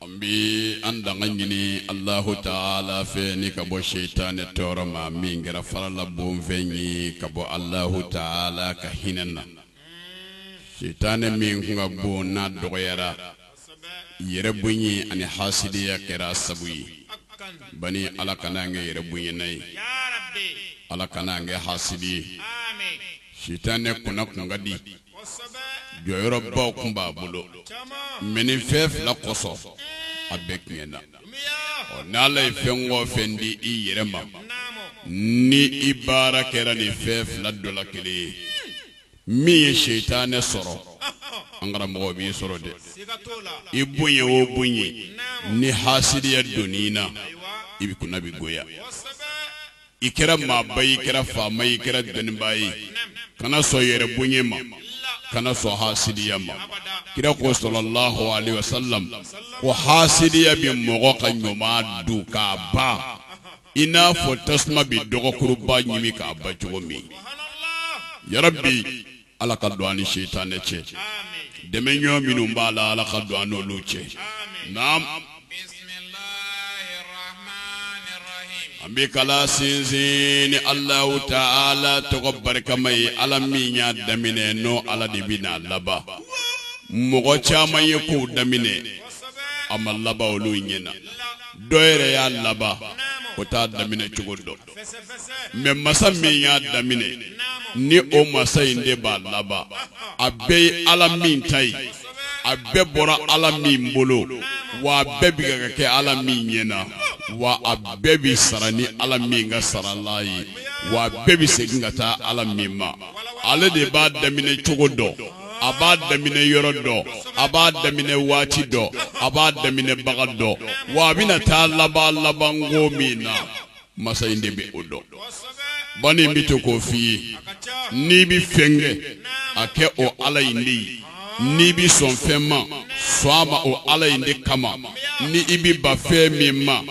an bi an tanga ɲini alahu taala fɛ ni ka bɔ seyitanɛ tɔɔrɔ ma min kɛra farala bonfɛn ye ka bɔ alahu taala ka hinɛ na seyitanɛ min kun ka bon n'a dɔgɔyara yɛrɛ bonya ani hasidiya kɛra sabu ye ban ala kana an kɛ yɛrɛ bonyana ye ala kana an kɛ hasidi ye seyitanɛ kunna kun ka di jɔyɔrɔbaw tun b'a bolo mɛ nin fɛn fila kosɔn a bɛɛ tiɲɛna o n' ala ye fɛn o fɛn di i yɛrɛ ma ni i baara kɛra nin fɛn fila dɔ la kelen ye min ye seyitanɛ sɔrɔ an karamɔgɔ b'i sɔrɔ dɛ i bonya o bonya ni hasidiya don i na i bɛ kunna bɛ goya i kɛra maaba i kɛra faama i kɛra dɔnnibaa ye kana sɔn yɛrɛ bonya ma kana sɔn hasidiya ma kira ko sallallahu alaihi wasallam ko hasidiya bɛ mɔgɔ ka ɲuman dun k'a ban i n'a fɔ tasuma bɛ dɔgɔkuruba ɲimi k'a ban cogo min yarabi ala ka don an ni seyitanɛ cɛ dɛmɛ ɲɔgɔn minnu b'a la ala ka don an n'olu cɛ naam an bɛ kalan sinsin ni alahu taala tɔgɔ barikama ye ala min y'a daminɛ n'o ala de bɛ n'a laban mɔgɔ caman ye kow daminɛ a ma laban olu ɲɛ na dɔ yɛrɛ y'a laban o t'a daminɛ cogo dɔn mɛ masa min y'a daminɛ ni o masa in de b'a laban a bɛɛ ye ala min ta ye a bɛɛ bɔra ala min bolo wa a bɛɛ bɛ ka kɛ ala min ɲɛ na wa a bɛɛ bɛ sara ni ala min ka sarala ye wa a bɛɛ bɛ segin ka taa ala min ma ale de b'a daminɛ cogo dɔn a b'a daminɛ yɔrɔ dɔn a b'a daminɛ waati dɔn a b'a daminɛbaga dɔn wa a bɛna taa laban labanko min na masa in de bɛ o dɔn bani n bɛ to k'o f'i ye n'i bɛ fɛn kɛ a kɛ o ala in de ye n'i bɛ sɔn fɛn ma sɔn a ma o ala in de kama ni i bɛ ban fɛn min ma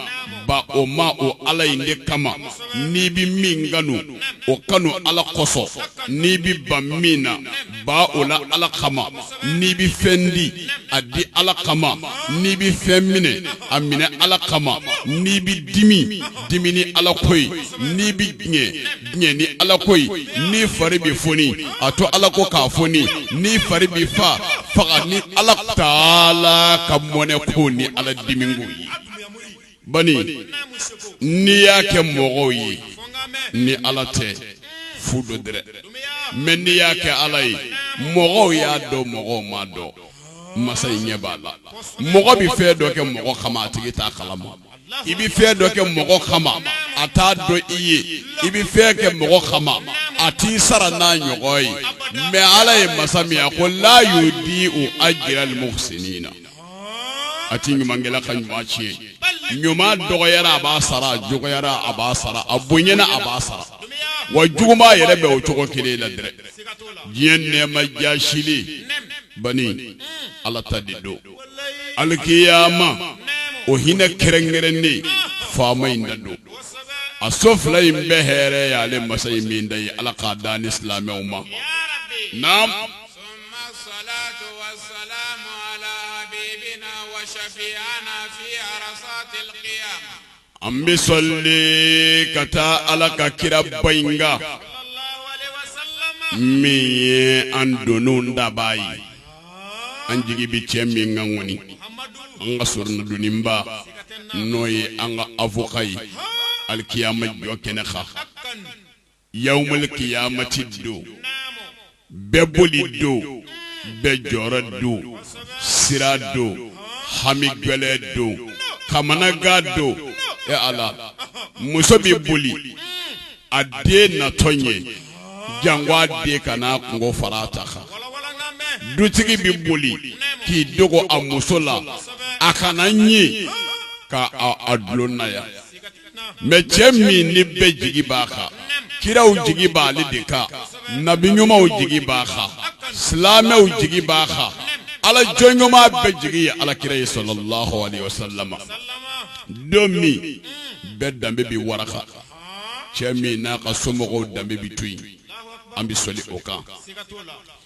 ban o ma o ala in de kama n'i bɛ min kanu o kanu ala kosɔn n'i bɛ ban min na ban o la ala kama n'i bɛ fɛn di a di ala kama n'i bɛ fɛn minɛ a minɛ ala kama n'i bɛ dimi dimi ni ala ko ye n'i bɛ diɲɛ diɲɛ ni ala ko ye n'i fari bɛ foni a to ala ko k'a foni n'i fari bɛ fa faga ni ala taala ka mɔnɛ ko ni ala dimi ko ye bani n'i y'a kɛ mɔgɔw ye ni ala tɛ fu don dɛ mɛ n'i y'a kɛ ala ye mɔgɔw y'a dɔn mɔgɔw m'a dɔn masa in ɲɛ b'a la mɔgɔ bɛ fɛn dɔ kɛ mɔgɔ kama a tigi t'a kala ma i bɛ fɛn dɔ kɛ mɔgɔ kama a t'a dɔn i ye i bɛ fɛn kɛ mɔgɔ kama a t'i sara n'a ɲɔgɔn ye mɛ ala ye masa min ye a ko la yudi'u ajiral muhsinina a tɛ ɲuman kɛla ka ɲuman tiɲɛ ɲuman dɔgɔyara a b'a sara a dɔgɔyara a b'a sara a bonyana a b'a sara wa juguman yɛrɛ bɛ o cogo kelen la dɛ diɲɛ nɛɛma jaasilen bani ala ta de don alikiyama o hinɛ kɛrɛnkɛrɛnnen faama in ta don a so fila in bɛɛ hɛrɛ y'ale masa in min ta ye ala k'a d'an ni silamɛw ma naam Summa salatu salamu ala habibina wa shafi'ina fil kiyama an bɛ soli ka taa ala ka kiraba in kan min ye an dondaba ye an jigi bɛ cɛ min kan ŋɔni an ka soronadonniba n'o ye an ka afɔka ye alikiyama jɔkɛnɛ kan Yawmal kiyamati don, bɛɛ boli don, bɛɛ jɔrɔ don, siran don, hami gɛlɛn don, kamanagan don, e Ala, muso bɛ boli a den natɔ ɲɛ janko a den kana a kunko fara a ta kan, dutigi bɛ boli k'i dogo a muso la a kana ɲin ka a dulon naya. mɛ cɛ min ni bɛɛ jigi b'a kan kiraw jigi b'ale de kan nabiɲumaw jigi b'a kan silamɛw jigi b'a kan ala jɔn ɲuman bɛɛ jigi ye ala kira ye salalahu alayhi wasalama don min bɛɛ danbe bɛ waraka cɛ min n'a ka somɔgɔw danbe bɛ to yen an bɛ soli o kan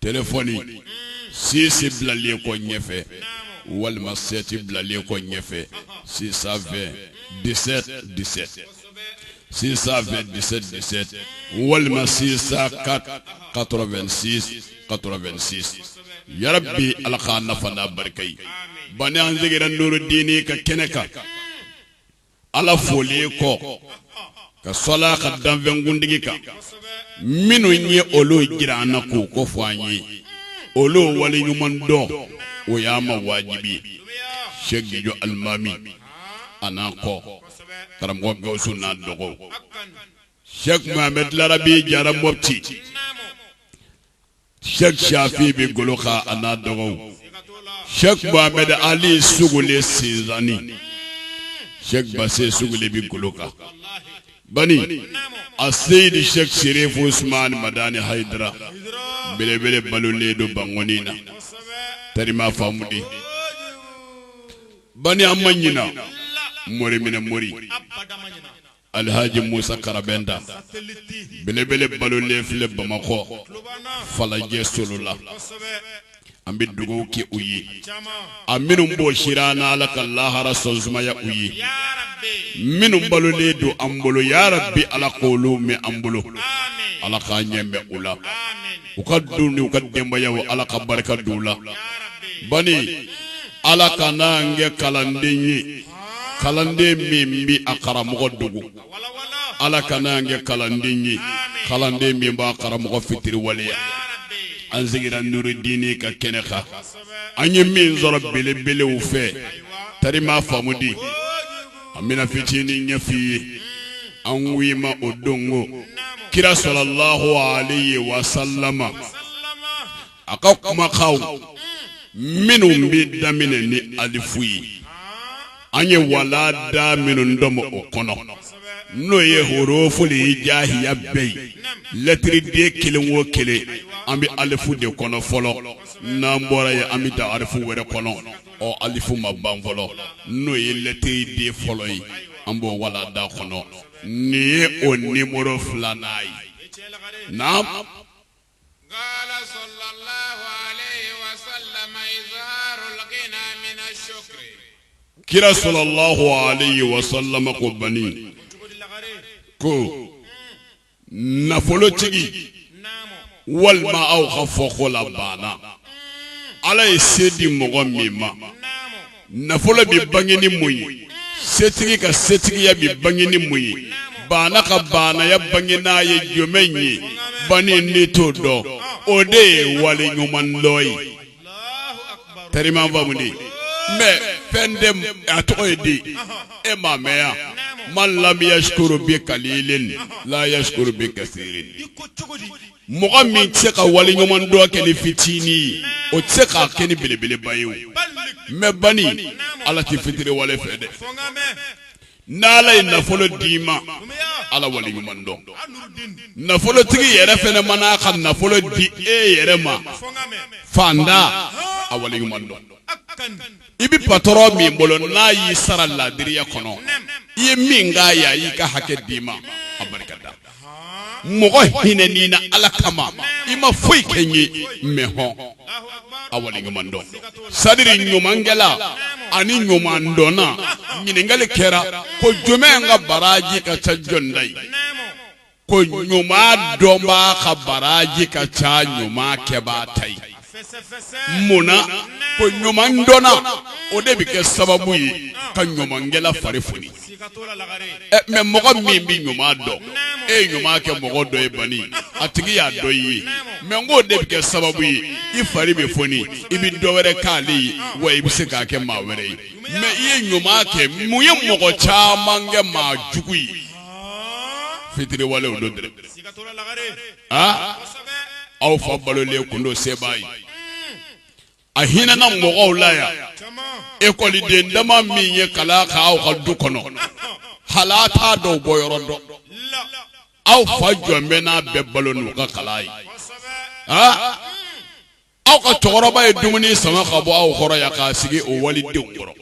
tfɔoni sise bilalen kɔ ɲɛfɛ walima sɛti bilalen kɔ ɲɛfɛ sisan fɛ dɛsɛ dɛsɛ sisan fɛ dɛsɛ dɛsɛ walima sisan ka ka2si ka2si ya bi ala k' nafa barika ye ban an seginna norodeninin ka kɛnɛ kan ala folen kɔ ka soli a ka danfɛn kuntigi kan minnu ye olu jira an na k'u ko fɔ an ye olu waleɲumandɔn o y'an ma wajibi ye sɛki jijɔ alimami a n'an kɔ karamɔgɔ gawusu n'a dɔgɔ sɛki mohamɛdi larabi jara mɔti Sɛki Shafi bɛ golo kan a n'a dɔgɔ Sɛki Mamadi Ali Sogole sensanni Sɛki Base Sogole bɛ golo kan bani Aseyidi Sɛki Serifu Usumani Madani Hayidara belebele balolen don Bankoni na tari m'a faamu dɛ bani an ma ɲinɛ mori min na mori Alihaji Musa Karabɛnta belebele balolen filɛ Bamakɔ Falajɛ Solola an bɛ dugawu kɛ u ye a minnu bɔsira an na Ala ka lahara sɔnsumaya u ye minnu balolen don an bolo yarabi Ala k'olu mɛn an bolo Ala k'an ɲɛ mɛn u la u ka du n'u ka denbayaw Ala ka barika don u la bani Ala kan'an kɛ kalanden ye kalanden min bɛ a karamɔgɔ dogo ala kan'an kɛ kalanden ye kalanden min b'a karamɔgɔ fitiriwaleya an sigira nurudini ka kɛnɛ kan an ye min sɔrɔ belebelew fɛ tari m'a faamu dɛ an bɛna fitinin ɲɛf'i ye aw ma o dɔn ko kira salalahu alehi wasalama a ka kumakanw minnu bɛ daminɛ ni alifu ye an ye walanda minnu tɔmɔ o kɔnɔ n'o ye horofu li hijayiya bɛɛ ye lɛtiriden kelen wo kelen an bɛ alifu de kɔnɔ fɔlɔ n'an bɔra yen an bɛ taa arafu wɛrɛ kɔnɔ ɔ alifu ma ban fɔlɔ n'o ye lɛtiriden fɔlɔ ye an b'o walanda kɔnɔ nin ye o nimɔrɔ filanan ye na Kira salalahu wasalama ko bani ko nafolotigi walima aw ka fɔko la baana ala ye se di mɔgɔ min ma nafolo bɛ bange ni mun ye setigi ka setigiya bɛ bange ni mun ye baana ka baanaya bangenan ye jumɛn ye bani n'i t'o dɔn o de ye waleɲumandɔn ye tari m'a faamu dɛ mɛ fɛn tɛ a tɔgɔ ye di e m'a mɛn yan man lam yasikuru bi kalilin la yasikuru bi kasirin mɔgɔ min tɛ se ka waliɲumandɔn kɛ ni fitinin ye o tɛ se k'a kɛ ni belebeleba ye o mɛn bani ala tɛ fitiriwale fɛ dɛ n'ala ye nafolo d'i ma ala waliɲuman dɔn nafolotigi yɛrɛ fana man'a ka nafolo di e yɛrɛ ma faantan a waliɲuman dɔn i bɛ patɔrɔn min bolo n'a y'i sara laadiriya kɔnɔ i ye min k'a ye a y'i ka hakɛ d'i ma a barika da mɔgɔ hinɛn'i na ala kama i ma foyi kɛ n ye mɛ hɔn a wale ɲuman dɔn sadiri ɲumankɛla ani ɲuman dɔnna ɲininkali kɛra ko jɔn ka baraji ka ca jɔn ta ye ko ɲuman dɔnbaa ka baraji ka ca ɲuman kɛbaa ta ye mun na ko ɲuman dɔnna o de bɛ kɛ sababu ye ka ɲumankɛla fari foni mɛ mɔgɔ min bɛ ɲuman dɔn e ye ɲuman kɛ mɔgɔ dɔ ye bani a tigi y'a dɔn i ye mɛ n k'o de bɛ kɛ sababu ye i fari bɛ foni i bɛ dɔ wɛrɛ k'ale ye wa i bɛ se k'a kɛ maa wɛrɛ ye mɛ i ye ɲuman kɛ mun ye mɔgɔ caman kɛ maa jugu ye fitiriwalew don dɛ aa aw fa balolen kun don sebaa ye a hinɛna mɔgɔw la yan ekɔliden dama min ye kalan kɛ aw ka du kɔnɔ hali a t'a dɔw bɔyɔrɔ dɔn aw fa jɔlen bɛ n'a bɛɛ balo n'u ka kalan ye aa aw ka cɛkɔrɔba ye dumuni sama ka bɔ aw kɔrɔ yan k'a sigi o walidenw kɔrɔ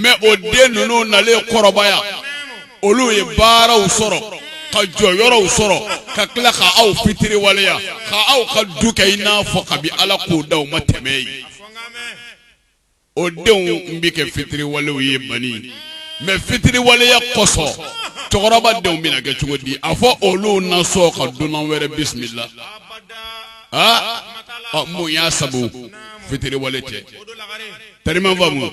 mɛ o den ninnu nalen kɔrɔbaya olu ye baaraw sɔrɔ ka jɔyɔrɔw sɔrɔ ka tila ka aw fitiriwaleya ka aw ka du kɛ i n'a fɔ kabi ala k'u da u ma tɛmɛ yen o denw n bɛ kɛ fitiriwalew ye bani mɛ fitiriwaleya kɔsɔn cɛkɔrɔba denw bɛna kɛ cogo di a fɔ olu na sɔn ka dunan wɛrɛ bisimila aa mun y'a sabu fitiriwale tɛ teri m'a faamu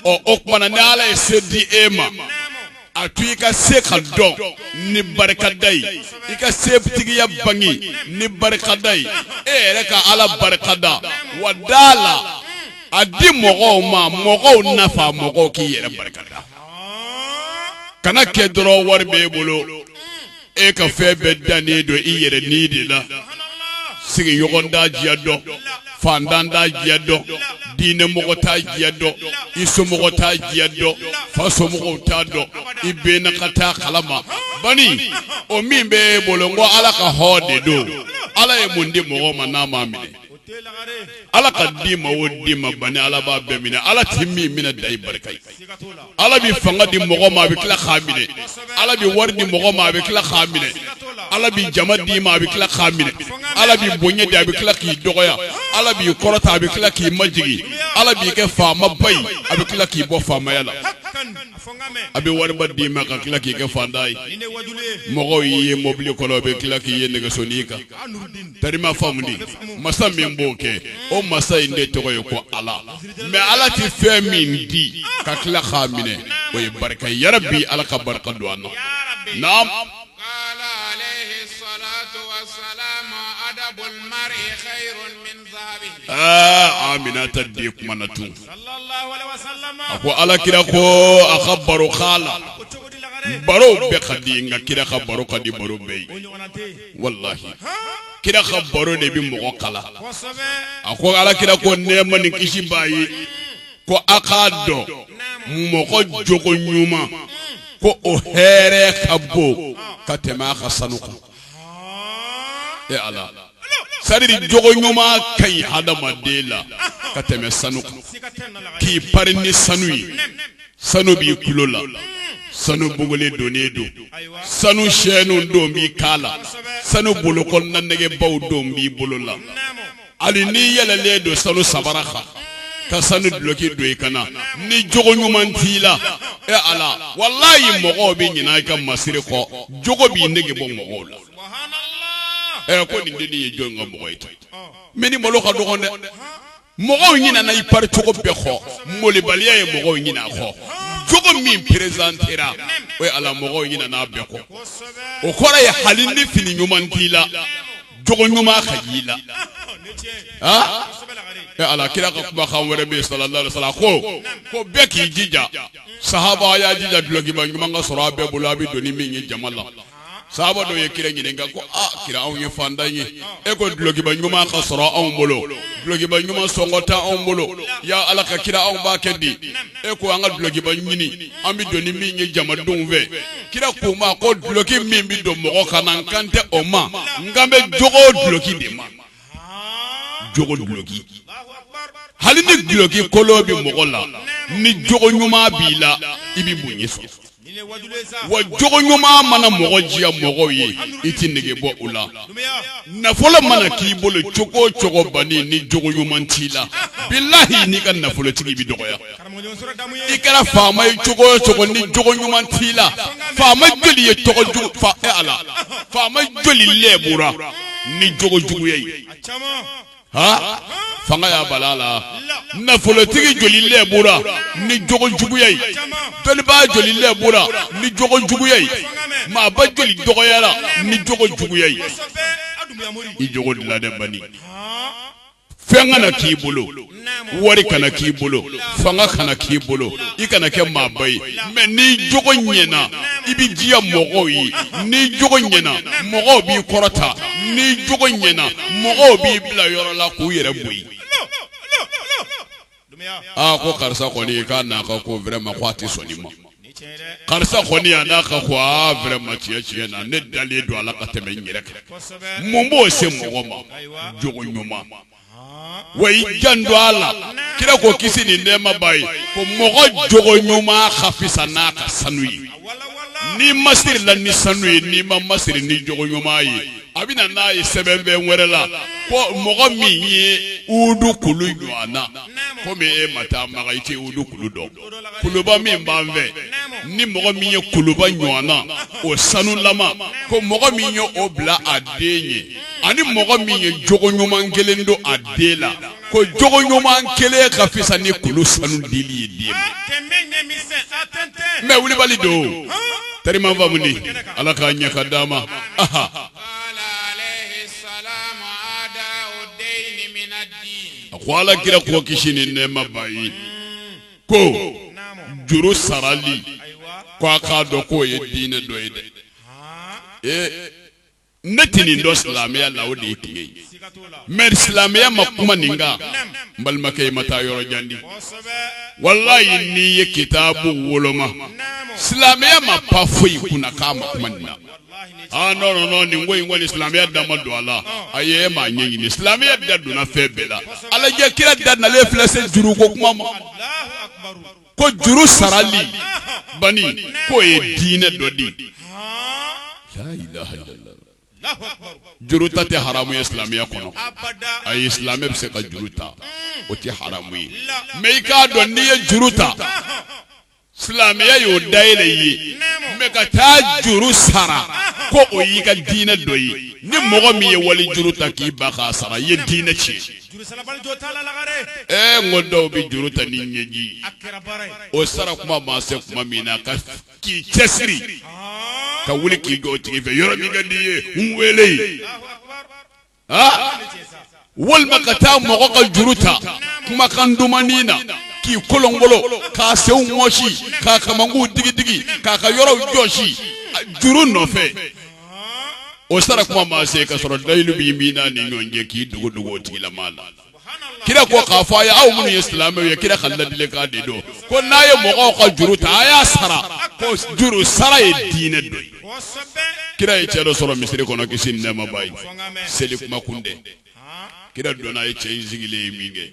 o tuma na ni ala ye se di e ma a to i ka se ka dɔn ni barikada ye i ka setigiya bange ni barikada ye e yɛrɛ ka ala barika da wa da la a di mɔgɔw ma mɔgɔw nafa mɔgɔw k'i yɛrɛ barika da kana kɛ dɔrɔn wari bɛ e bolo e ka fɛn bɛɛ dannen don i yɛrɛ ni de la sigiɲɔgɔn t'a diya dɔn fantan t'a diya dɔn diinɛmɔgɔ t'a diya dɔn i somɔgɔ t'a diya dɔn fa somɔgɔw t'a dɔn i bɛ ne ka ta kalama bani o min bɛ e bolo n ko ala ka hɔn de don ala ye mun di mɔgɔ ma n'a m'a minɛ Ala ka di ma o di ma bani ala b'a bɛɛ minɛ ala tɛ min minɛ da ye barika ye ala bɛ fanga di mɔgɔ ma a bɛ tila k'a minɛ ala bɛ wari di mɔgɔ ma a bɛ tila k'a minɛ ala bɛ jama di ma a bɛ tila k'a minɛ ala bɛ bonya di a bɛ tila k'i dɔgɔya ala b'i kɔrɔta a bɛ tila k'i majigin ala b'i kɛ faamaba ye a bɛ tila k'i bɔ faamaya la a bɛ wariba d'i ma ka tila k'i kɛ fantan ye mɔgɔw y'i ye mɔbili kɔnɔ u bɛ tila k'i ye nɛgɛsoni kan i ma faamu masa min b'o kɛ o masa in de tɔgɔ ye ko ala mɛ ala tɛ fɛn min di ka tila k'a minɛ o ye barika yarabi ala ka barika don an na a minɛn tɛ di kuma na tun a ko ala kira ko a ka baro la baro bɛɛ ka di nka kira ka baro ka di baro bɛɛ ye walahi kira ka baro de bɛ mɔgɔ kalan a ko ala kira ko nɛɛma ni kisi b'a ye ko a k'a dɔn mɔgɔ jogo ɲuman ko o hɛrɛ ka bon ka tɛmɛ a ka sanu kan e ala sari jogo ɲuman ka ɲi hadamaden la ka tɛmɛ sanu kan k'i pari ni sanu ye sanu b'i tulo la sanu bugulen donnen don sanu sɛniw don b'i kan la sanu bolokɔnina nɛgɛbaw don b'i bolo la hali n'i yɛlɛlen don sanu sabara kan ka sanu duloki don i kan na ni jogo ɲuman t'i la e ala walayi mɔgɔw bɛ ɲinɛ i ka masiri kɔ jogo b'i nege bɔ mɔgɔw la ɛ ko nin den ye jɔn ka mɔgɔ ye tan mɛ nin malo ka dɔgɔn dɛ mɔgɔw ɲinɛna i pari cogo bɛɛ kɔ malobaliya ye mɔgɔw ɲinɛ a kɔ jogo min perezantera o ye ala mɔgɔw ɲinɛna a bɛɛ kɔ o kɔrɔ ye hali ni fini ɲuman t'i la jogo ɲuman ka y'i la ah e ala kira ka kumakan wɛrɛ bɛ yen sallallahu alaihi wasallam ko ko bɛɛ k'i jija sahaba y'a jija dulɔkiba ɲuman ka sɔrɔ a bɛɛ bolo a bɛ don ni min ye jama la sahaba dɔw ye kira ɲininka ko a kira anw ye fantan ye e ko dulɔkiba ɲuman ka sɔrɔ anw bolo dulɔkiba ɲuman sɔngɔ tɛ anw bolo ya ala ka kira anw b'a kɛ di e ko an ka dulokiba ɲini an bɛ don ni min ye jamadenw fɛ kira k'u ma ko duloki min bɛ don mɔgɔ kan na n kan tɛ o ma n kan bɛ jogo duloki de ma jogo duloki hali ni duloki kolon bɛ mɔgɔ la ni jogo ɲuman b'i la i bɛ bonya sɔrɔ wa jogo ɲuman mana mɔgɔ diya mɔgɔw ye i tɛ nege bɔ u la nafolo mana k'i bolo cogo o cogo bani ni jogo ɲuman t'i la bilahi n'i ka nafolotigi bɛ dɔgɔya i kɛra faama ye cogo o cogo ni jogo ɲuman t'i la faama joli ye tɔgɔ jugu fa e ala faama joli lɛbura ni jogo juguya ye Ha fanga y'a bala a la nafolotigi joli lɛbura ni jogo juguya ye dɔnnibaa joli lɛbura ni jogo juguya ye maaba joli dɔgɔyara ni jogo juguya ye i jogo dilan dɛ bani fɛn kana k'i bolo wari kana k'i bolo fanga kana k'i bolo i kana kɛ maaba ye mɛ n'i jogo ɲɛna i bɛ diya mɔgɔw ye n'i jogo ɲɛna mɔgɔw b'i kɔrɔta n'i jogo ɲɛna mɔgɔw b'i bila yɔrɔ la k'u yɛrɛ bɔ yen aa ko karisa kɔni k'a n'a ka ko wɛrɛma ko a tɛ sɔn i ma karisa kɔni a n'a ka ko aa wɛrɛma tiɲɛ tiɲɛ na ne dalen don a la ka tɛmɛ n yɛrɛ kan mun b'o se mɔgɔ ma jogo ɲuman wa i janto ala kira ko kisi ni nɛɛma b'a ye ko mɔgɔ jogo ɲuman ka fisa n'a ka sanu ye n'i masirila ni sanu ye n'i ma masiri ni jogo ɲuman ye a bɛ na n'a ye sɛbɛnbɛn wɛrɛ la ko mɔgɔ min ye udu kulu ɲɔgɔn na komi e ma taa maka i tɛ udu kulu dɔn kuluba min b'an fɛ ni mɔgɔ min ye kuluba ɲɔgɔn na o sanulama ko mɔgɔ min ye o bila a den ye ani mɔgɔ min ye jogo ɲuman kelen don a den la ko jogo ɲuman kelen ka fisa ni kulu sanu dili ye den ma mɛ kulibali don teri ma faamu ni ala k'a ɲɛ ka d'a ma aha a ko ala kira ko kisi ni nɛɛma b'a ye ko juru sarali ko a k'a dɔn k'o ye diinɛ dɔ ye dɛ ee ne tɛ nin dɔn silamɛya la o de ye tiɲɛ ye mɛ silamɛya ma kuma nin kan n balimakɛ i ma taa yɔrɔ jan dɛ walayi n'i ye kitaabu woloma silamɛya ma pan foyi kunna k'a ma kuma nin na aa nɔ nɔ nɔ nin ko in kɔni silamɛya da ma don a la ayi e m'a ɲɛɲini silamɛya da donna fɛn bɛɛ la a lajɛ kira da nalen filɛ se juru ko kuma ma ko juru sarali bani k'o ye diinɛ dɔ di layilaha ilala juru ta tɛ haramu ye silamɛya kɔnɔ ayi silamɛ bɛ se ka juru ta o tɛ haramu ye mɛ i k'a dɔn n'i ye juru ta silamɛya y'o dayɛlɛ i ye mɛ ka taa juru sara ko o y'i ka diinɛ dɔ ye ni mɔgɔ min ye wali juru ta k'i ban k'a sara i ye diinɛ tiɲɛ ee n ko dɔw bɛ juru ta ni ɲɛji o sara kuma maa se kuma min na ka k'i cɛsiri ka wuli k'i jɔ o tigi fɛ yɔrɔ min ka di i ye n wele walima ka taa mɔgɔ ka juru ta kumakan dumannin na k'i kolonkolon k'a senw mɔsi k'a kamankunw digidigi k'a ka yɔrɔw jɔsi juru nɔfɛ o sara kuma maa se ka sɔrɔ layidu b'i min n'a ni ɲɔgɔn cɛ k'i dogo dogo o tigilamaa la kira ko k'a fɔ a ye aw minnu ye silamɛw ye kira ka ladilikan de don ko n'a ye mɔgɔw ka juru ta a y'a sara ko juru sara ye diinɛ dɔ ye kira ye cɛ dɔ sɔrɔ misiri kɔnɔ kisi ni nɛɛma b'a ye seli kuma kun tɛ kira donna a ye cɛ in sigilen ye min kɛ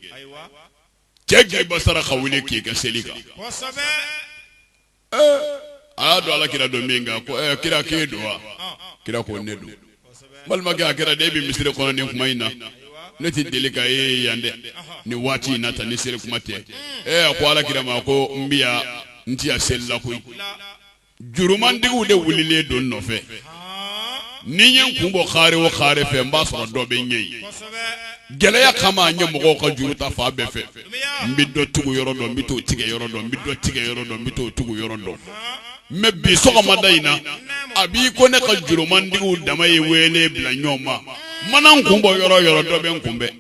cɛ gɛnba sara ka wuli k'i ka seli kan a y'a dɔn ala kira don min kɛ ko kira k'e don wa kira ko ne don balimakɛ a kɛra di e bɛ misiri kɔnɔ nin kuma in na ne tɛ deli ka e ye yan dɛ nin waati in na tan ni seli kuma tɛ ɛ a ko ala kira ma ko n bɛ yan n tɛ yan seli la koyi jurumantigiw de wulilen don n nɔfɛ Ni n ye n kun bɔ kare o kare fɛ n b'a sɔrɔ dɔ bɛ n ɲɛ yen. Gɛlɛya kama n ye mɔgɔw ka juru ta fan bɛɛ fɛ. N bɛ dɔ tugu yɔrɔ dɔ, n bɛ t'o tigɛ yɔrɔ dɔ, n bɛ dɔ tigɛ yɔrɔ dɔ, n bɛ t'o tugu yɔrɔ dɔ. Mais bi sɔgɔmada in na, a b'i ko ne ka jurumantigiw dama ye wele bila ɲɔgɔn ma. N mana n kun bɔ yɔrɔ o yɔrɔ, dɔ bɛ n kunbɛn.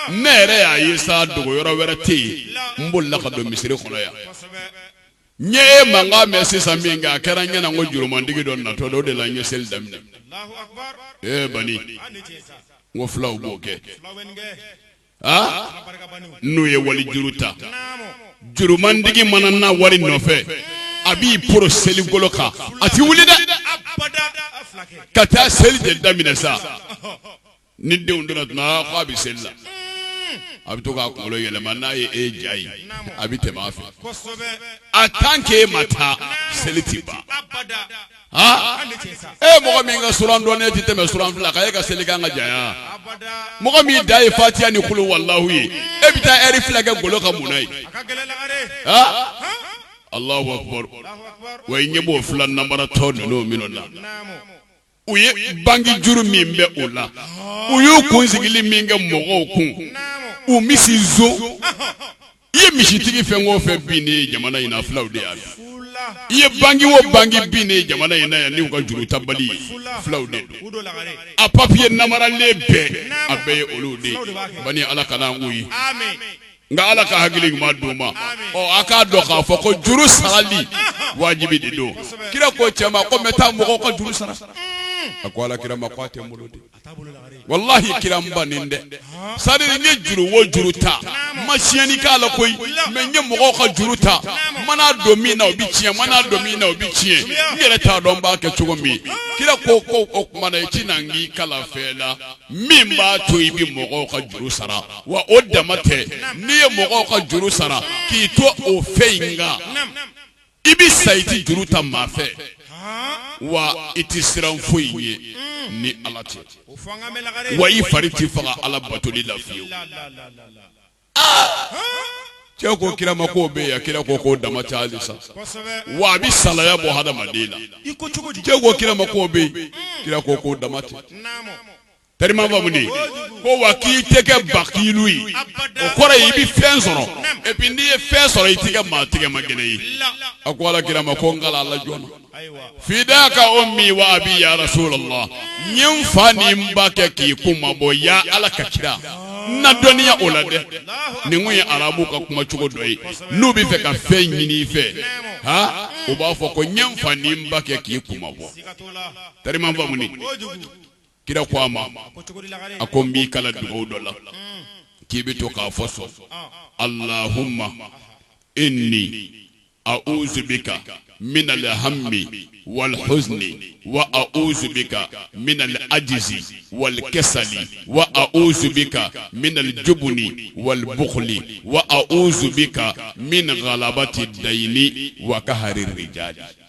Ne yɛrɛ y'a ye sa, dogo yɔrɔ wɛrɛ tɛ yen, n bolila ka don misiri kɔnɔ yan. N ye e mankan mɛn sisan min kɛ a kɛra n ɲɛna ko jurumantigi dɔ natɔ don o de la n ye seli daminɛ ee bani n ko fulaw b'o kɛ aa n'u ye wali juru ta jurumantigi mana na wari nɔfɛ a b'i poro seli golo kan a tɛ wuli dɛ ka taa seli de daminɛ sa ni denw donna tuma ko a bɛ seli la a bɛ to k'a kunkolo yɛlɛma n'a ye e ja ye a bɛ tɛmɛ a fɛ a tant que e ma taa seli tɛ ban e mɔgɔ min ka suran dɔnnen tɛ tɛmɛ suran fila kan e ka seli kan ka janya mɔgɔ min dan ye fatiya ni kulu walahu ye e bɛ taa eri fila kɛ golo kan mun ye Allahu akbar wa i ɲɛ b'o fula namaratɔ ninnu minnu na u ye banki juru min bɛ o la u y'u kun sigilen min kɛ mɔgɔw kun u misi son i ye misitigi fɛn o fɛn binnen ye jamana in fulaw de y'a bin i ye banki o banki binnen ye jamana in na yan n'u ka juru ta bali fulaw de don a papiye namaralen bɛɛ a bɛɛ ye olu de ban ala ka' ye nka ala ka hakili ɲuman d'u ma ɔ a k'a dɔn k'a fɔ ko juru sarali wajibi de don kira ko cɛ ma ko n bɛ taa mɔgɔw ka juru sara a ko ala kira ma ko a tɛ n bolo de walahi kira n bannen tɛ sara n ye juru o juru ta n ma tiɲɛni k'a la koyi mais n ye mɔgɔw ka juru ta n mana don min na o bɛ tiɲɛ n mana don min na o bɛ tiɲɛ n yɛrɛ t'a dɔn n b'a kɛ cogo min kira ko ko o tuma na i tɛ na n k'i kalan fɛn la min b'a to i bɛ mɔgɔw ka juru sara wa o dama tɛ n'i ye mɔgɔw ka juru sara k'i to o fɛn in kan i bɛ sa i tɛ juru ta maa fɛ wa i tɛ siran foyi ɲɛ mm. ni ala tɛ wa i fari tɛ faga ala batoli la fiyewu cɛ ko kira ma k'o bɛ yan kira ko k'o dama tɛ hali sa wa a bɛ salaya bɔ hadamaden na cɛ ko kira ma k'o bɛ yen mm. kira ko k'o dama tɛ Tellement faamu dɛ? Kojugu. Ko wa k'i tɛ kɛ bakilu ye. Abada. O kɔrɔ ye i bɛ fɛn sɔrɔ Naamu. et puis n'i ye fɛn sɔrɔ i tɛ kɛ maa tɛgɛmagɛlɛn ye. La. A ko ala kira ma ko n kalan a la joona. Ayiwa. Fidaaka ummi wa abii yaa rasulalah n ye n fa ni n ba kɛ k'i kunmabɔ yaa Ala ka kira n ladɔnniya o la dɛ ninnu ye arabuw ka kuma cogo dɔ ye n'u bɛ fɛ ka fɛn ɲini i fɛ ha u b'a fɔ ko n ye n fa ni n ba kɛ k'i kunmabɔ Siga t'o la. tellement faamu ni Kojugu. kira ko a ma a ko n b'i kalan dugawu dɔ la k'i bɛ to k'a fɔ sɔn alahuma ini auzu bika min alhami wal huzni wa auzu bika min alajzi wal kasali wa auzu bika min aljubni wal bukli wa auzu bika min galabati dayini wa kahari rijali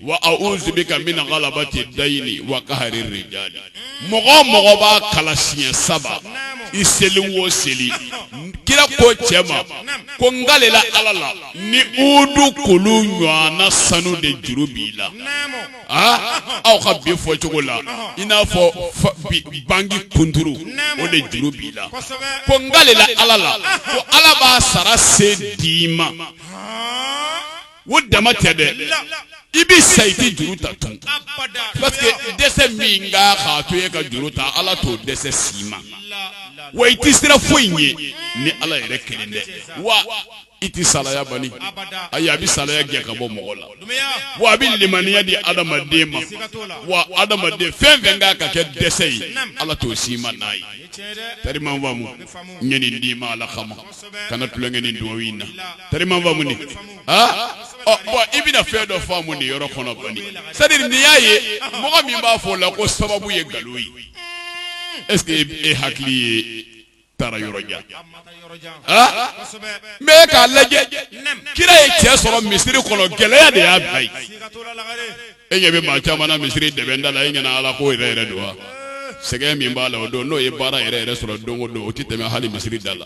Wa auzu bika min galabati dayini wa kahari rijali mɔgɔ mɔgɔ b'a kalan siɲɛ saba i seli wo seli kira ko cɛ ma ko n kalela ala la ni uhudu kulu ɲɔgɔn sanu de juru b'i la aa aw ka bi fɔ cogo la i n'a fɔ banki kuturu o de juru b'i la ko n kalela ala la fo ala b'a sara se d'i ma o dama tɛ dɛ i bɛ sa i tɛ juru ta tun parce que dɛsɛ min kan k'a to e ka juru ta ala t'o dɛsɛ s'i ma wa i tɛ siran foyi ɲɛ ni ala yɛrɛ kelen tɛ wa i tɛ salaya bali ayi a bɛ salaya gɛn ka bɔ mɔgɔ la wa a bɛ limaniya di adamaden ma wa adamaden fɛn fɛn kan ka kɛ dɛsɛ ye ala t'o s'i ma n'a ye tellement faamu n ye nin d'i ma ala kama kana tulonkɛ ni dugawu in na tellement faamu i bɛna fɛn dɔ faamu nin yɔrɔ kɔnɔ bali c'est-à-dire ne y'a ye mɔgɔ min b'a fɔ o la ko sababu ye nkalon ye est-ce que e hakili ye taara yɔrɔ jan k'a lajɛ kira ye cɛ sɔrɔ misiri kɔnɔ gɛlɛya de y'a bila yen e ɲɛ bɛ maa caman na misiri dɛbɛn da la e ɲɛna ala ko yɛrɛ yɛrɛ don wa sɛgɛn min b'a la o don n'o ye baara yɛrɛ yɛrɛ sɔrɔ don o don o tɛ tɛmɛ hali misiri da la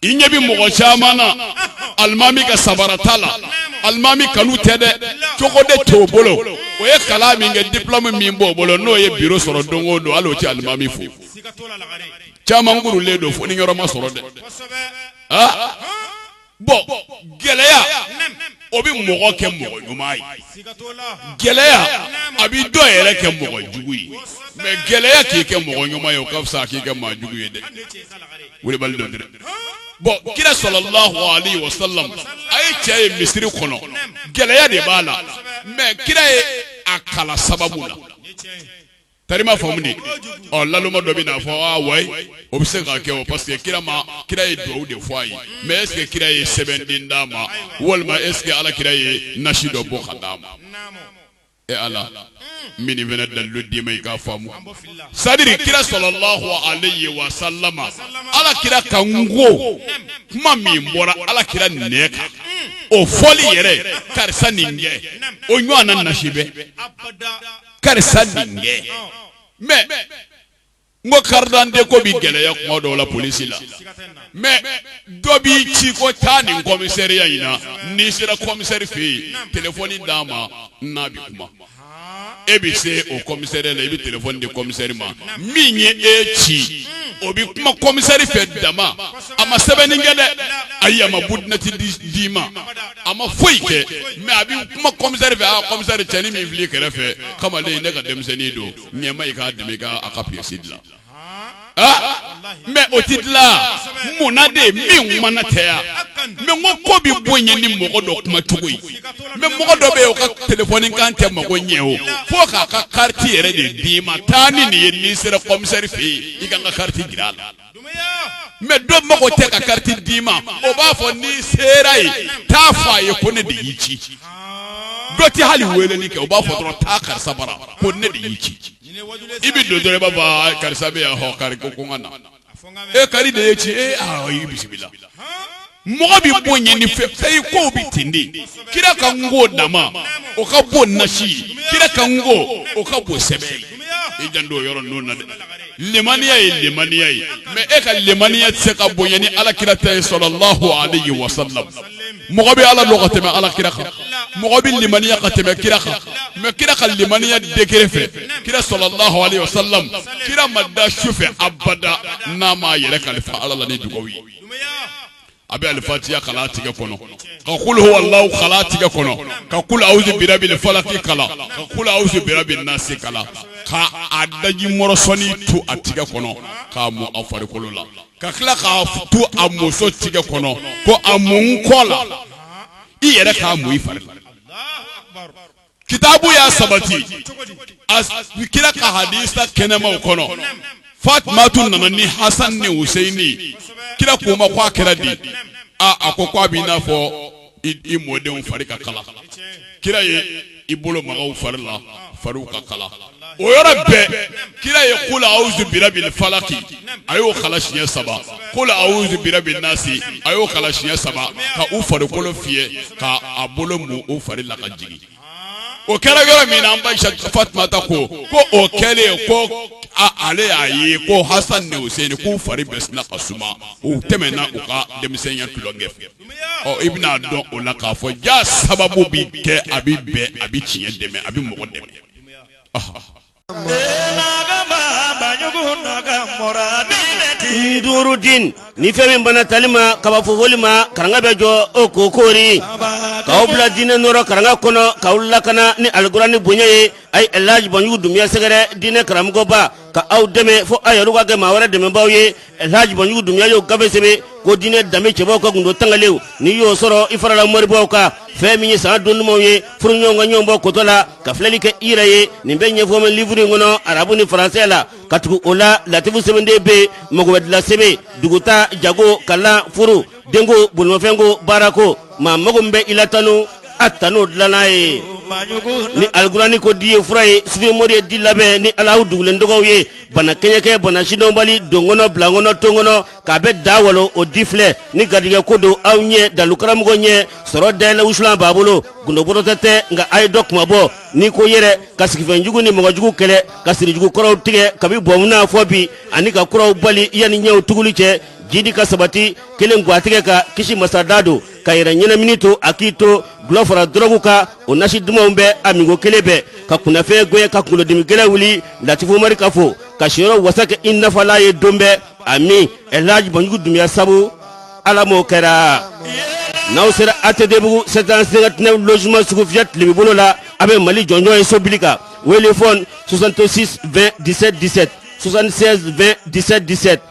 i ɲɛ bɛ mɔgɔ caman na alimami ka sabara ta la alimami kanu tɛ dɛ cogo de t'o bolo o ye kalan min kɛ diplɔmu min b'o bolo n'o ye biro sɔrɔ don o don hali o tɛ alimami fo caman kurulen don fɔɔni yɔrɔ ma sɔrɔ dɛ bɔn gɛlɛya o bɛ mɔgɔ kɛ mɔgɔ ɲuman ye gɛlɛya a bɛ dɔ yɛrɛ kɛ mɔgɔ jugu ye mɛ gɛlɛya k'i kɛ mɔgɔ ɲuman ye o ka fisa k'i kɛ mɔgɔ jugu ye dɛ kulubali dɔ dɛ bɔn kira sɔlɔlahu alayhi wa sallam a ye cɛ ye misiri kɔnɔ gɛlɛya de b'a la mɛ kira ye a kalan sababu la tari ma faamu de ɔ naloma dɔ bɛ n'a fɔ aa wayi o bɛ se ka kɛ o parce que kira ma kira ye dugawu de fɔ a ye mɛ est ce que kira ye sɛbɛnden d'a ma walima est ce que ala kira ye nasi dɔ bɔ ka d'a ma e ala n bɛ nin fana dalilu d'i ma i k'a faamu c'est à dire kira sɔlɔlahu alayhi wa salama ala kira kan ko kuma min bɔra ala kira nɛn kan o fɔli yɛrɛ karisa nin kɛ o ɲɔgɔn na nasi bɛ karisa denkɛ mɛ n ko karidante ko bɛ gɛlɛya kuma dɔw la polisi la mɛ dɔ b'i ci ko taa nin kɔmisɛriya in na n'i sera kɔmisɛri fɛ yen telefɔni d'a ma n'a bɛ kuma e bɛ se o kɔmisɛriya la i bɛ telefɔni di kɔmisɛri ma min ye e ci o bɛ kuma kɔmisɛri fɛ dama a ma sɛbɛnni kɛ dɛ ayi a ma budinati d'i ma a ma foyi kɛ mɛ a bɛ kuma kɔmisɛri fɛ a kɔmisɛri cɛnin min filɛ i kɛrɛfɛ kamalen ne ka denmisɛnnin don ɲɛma i k'a dɛmɛ ka a ka piyɛsi dilan mɛ o tɛ dilan munna de min mana tɛ yan mɛ o ko bɛ bonya ni mɔgɔ dɔ kuma cogo ye mɛ mɔgɔ dɔ bɛ o ka telefɔni kan tɛ mago ɲɛ o fo k'a ka kariti yɛrɛ de d'i ma taa ni nin ye n'i sera kɔmisɛri fɛ yen i ka n ka kariti jira a la mɛ dɔ mago tɛ ka kariti d'i ma o b'a fɔ n'i sera yen taa fɔ a ye ko ne de y'i ci dɔ tɛ hali weeleli kɛ o b'a fɔ dɔrɔn taa karisa bara ko ne de y'i ci i bɛ don dɔrɔn i b'a fɔ ah, karisa bɛ yan hɔ kari ko ko n ka na e kari de y'i ci e ah, i bisimila mɔgɔ bɛ bonya ni fɛn fɛn ye kow bɛ ten de kira kan ko dama o ka bon nasi ye kira kan ko o ka bon sɛbɛn ye i janto yɔrɔ ninnu na dɛ lemaniya ye lemaniya ye mɛ e ka lemaniya tɛ se ka bonya ni ala kira ta ye sɔlɔlahu alayhi wa sallam mɔgɔ bɛ ala dɔn ka tɛmɛ ala kira kan mɔgɔ bɛ lemaniya ka tɛmɛ kira kan mɛ kira ka lemaniya degere fɛ kira sɔlɔlahu alayhi wa sallam kira ma da su fɛ abada n'a m'a yɛrɛ kalifa ala la ni dugawu ye a bɛ alifatiya kala a tigɛ kɔnɔ ka kuluhu walahu kala tigɛ kɔnɔ ka kulu awuzu birabi falaki kala ka kulu awuzu birabi nasi kala ka a daji mɔrɔsɔni tu a tigɛ kɔnɔ k'a mun a farikolo la ka tila k'a tu a muso tigɛ kɔnɔ ko a mun n kɔ la i yɛrɛ k'a mun i fari la kitabu y'a sabati kira ka hadisa kɛnɛmaw kɔnɔ fatumatu nana ni hasan ni huseini kira k'u ma ko a kɛra di a ko ko a b'i n'a fɔ i mɔdenw fari ka kala kira ye i bolo maga u fari la fariw ka kala o yɔrɔ bɛɛ kira ye kulu awuzu birabi falaki a y'o kala siɲɛ saba kulu awuzu birabi nasi a y'o kala siɲɛ saba ka u farikolo fiyɛ ka a bolo mun u fari la ka jigin o kɛra yɔrɔ min na an ba fatumata ko ko o kɛlen ko ale y'a ye ko hasan ni hussein k'u fari bɛɛ sina ka suma u tɛmɛna u ka denmisɛnya tulonkɛ fɛ ɔ i bɛna dɔn o la k'a fɔ jaa sababu bi kɛ a bi bɛn a bi tiɲɛ dɛmɛ a bi mɔgɔ dɛmɛ Duuru den ni fɛn min banna tali ma ka ban fofoli ma karanga bɛ jɔ o k'o koori k'aw bila diinɛ nɔɔrɔ karanga kɔnɔ k'aw lakana ni alikurani bonya ye a ye Elhaji Banjugu Dunbiya sɛgɛrɛ diinɛ karamɔgɔba ka aw dɛmɛ fɔ aw yɛrɛ ka kɛ maa wɛrɛ dɛmɛbaa ye Elhaji Banjugu Dunbiya y'o gafe sɛbɛn ko diinɛ danbe cɛbaw ka gundo tangalen n'i y'o sɔrɔ i farala moribaw kan fɛn min ye san don dumanw ye furuɲɔgɔnw ka ɲɔgɔn bɔ kotɔ la ka filɛli kɛ i yɛrɛ ye nin bɛɛ ɲɛfɔ bɛ livuru in kɔnɔ arabu ni faransɛ la ka tugu o la latifu sɛbɛnden bɛ yen mago bɛɛ dila sɛbɛn dugutaa jago kalan furu denko bolomafɛnko baarako maa mago bɛ i la tanu a tanu dilanna ye ni alikurani ko di ye fura ye sufi mori ye di labɛn ni ala dogolen tɔgɔw ye bana kɛɲɛkɛ bana sidɔnbali donkɔnɔ bilankɔnɔ tonkɔnɔ k'a bɛ da walo o di filɛ ni garijɛgɛ ko don aw ye dalu karamɔgɔ ɲɛsɔrɔ dayɛlɛ wusulan b'a bolo gundobɔrɔtɔ tɛ nka a ye dɔ kuma bɔ n'i ko yɛrɛ ka sigifɛn jugu ni mɔgɔ jugu kɛlɛ ka sirijugu kɔrɔw tigɛ kabi bɔnmuna fɔ bi ani ka kuraw bali yanni ɲɛw tuguli cɛ jidi ka sabati kelen gwatigɛ ka kisi masada don ka yɛrɛ ɲɛnamini to a k'i to dɔlɔ fara dɔrɔgu kan o nasi dumanw bɛ a minko kelen bɛ ka kunnafɛn gɛn ka kunkolodimi gɛlɛn wuli latifu mari ka fo ka siyɔrɔ wasa kɛ i nafala ye don bɛɛ ami elhaji banjugu dunbiya sabu ala m'o kɛra n'aw sera atɛdebugu sept cent cinquante-neuf logements sugufiyɛ tilebin bolo la a bɛ mali jɔnjɔn ye so bili kan wele fɔn 66 20 17 17 76 20 17 17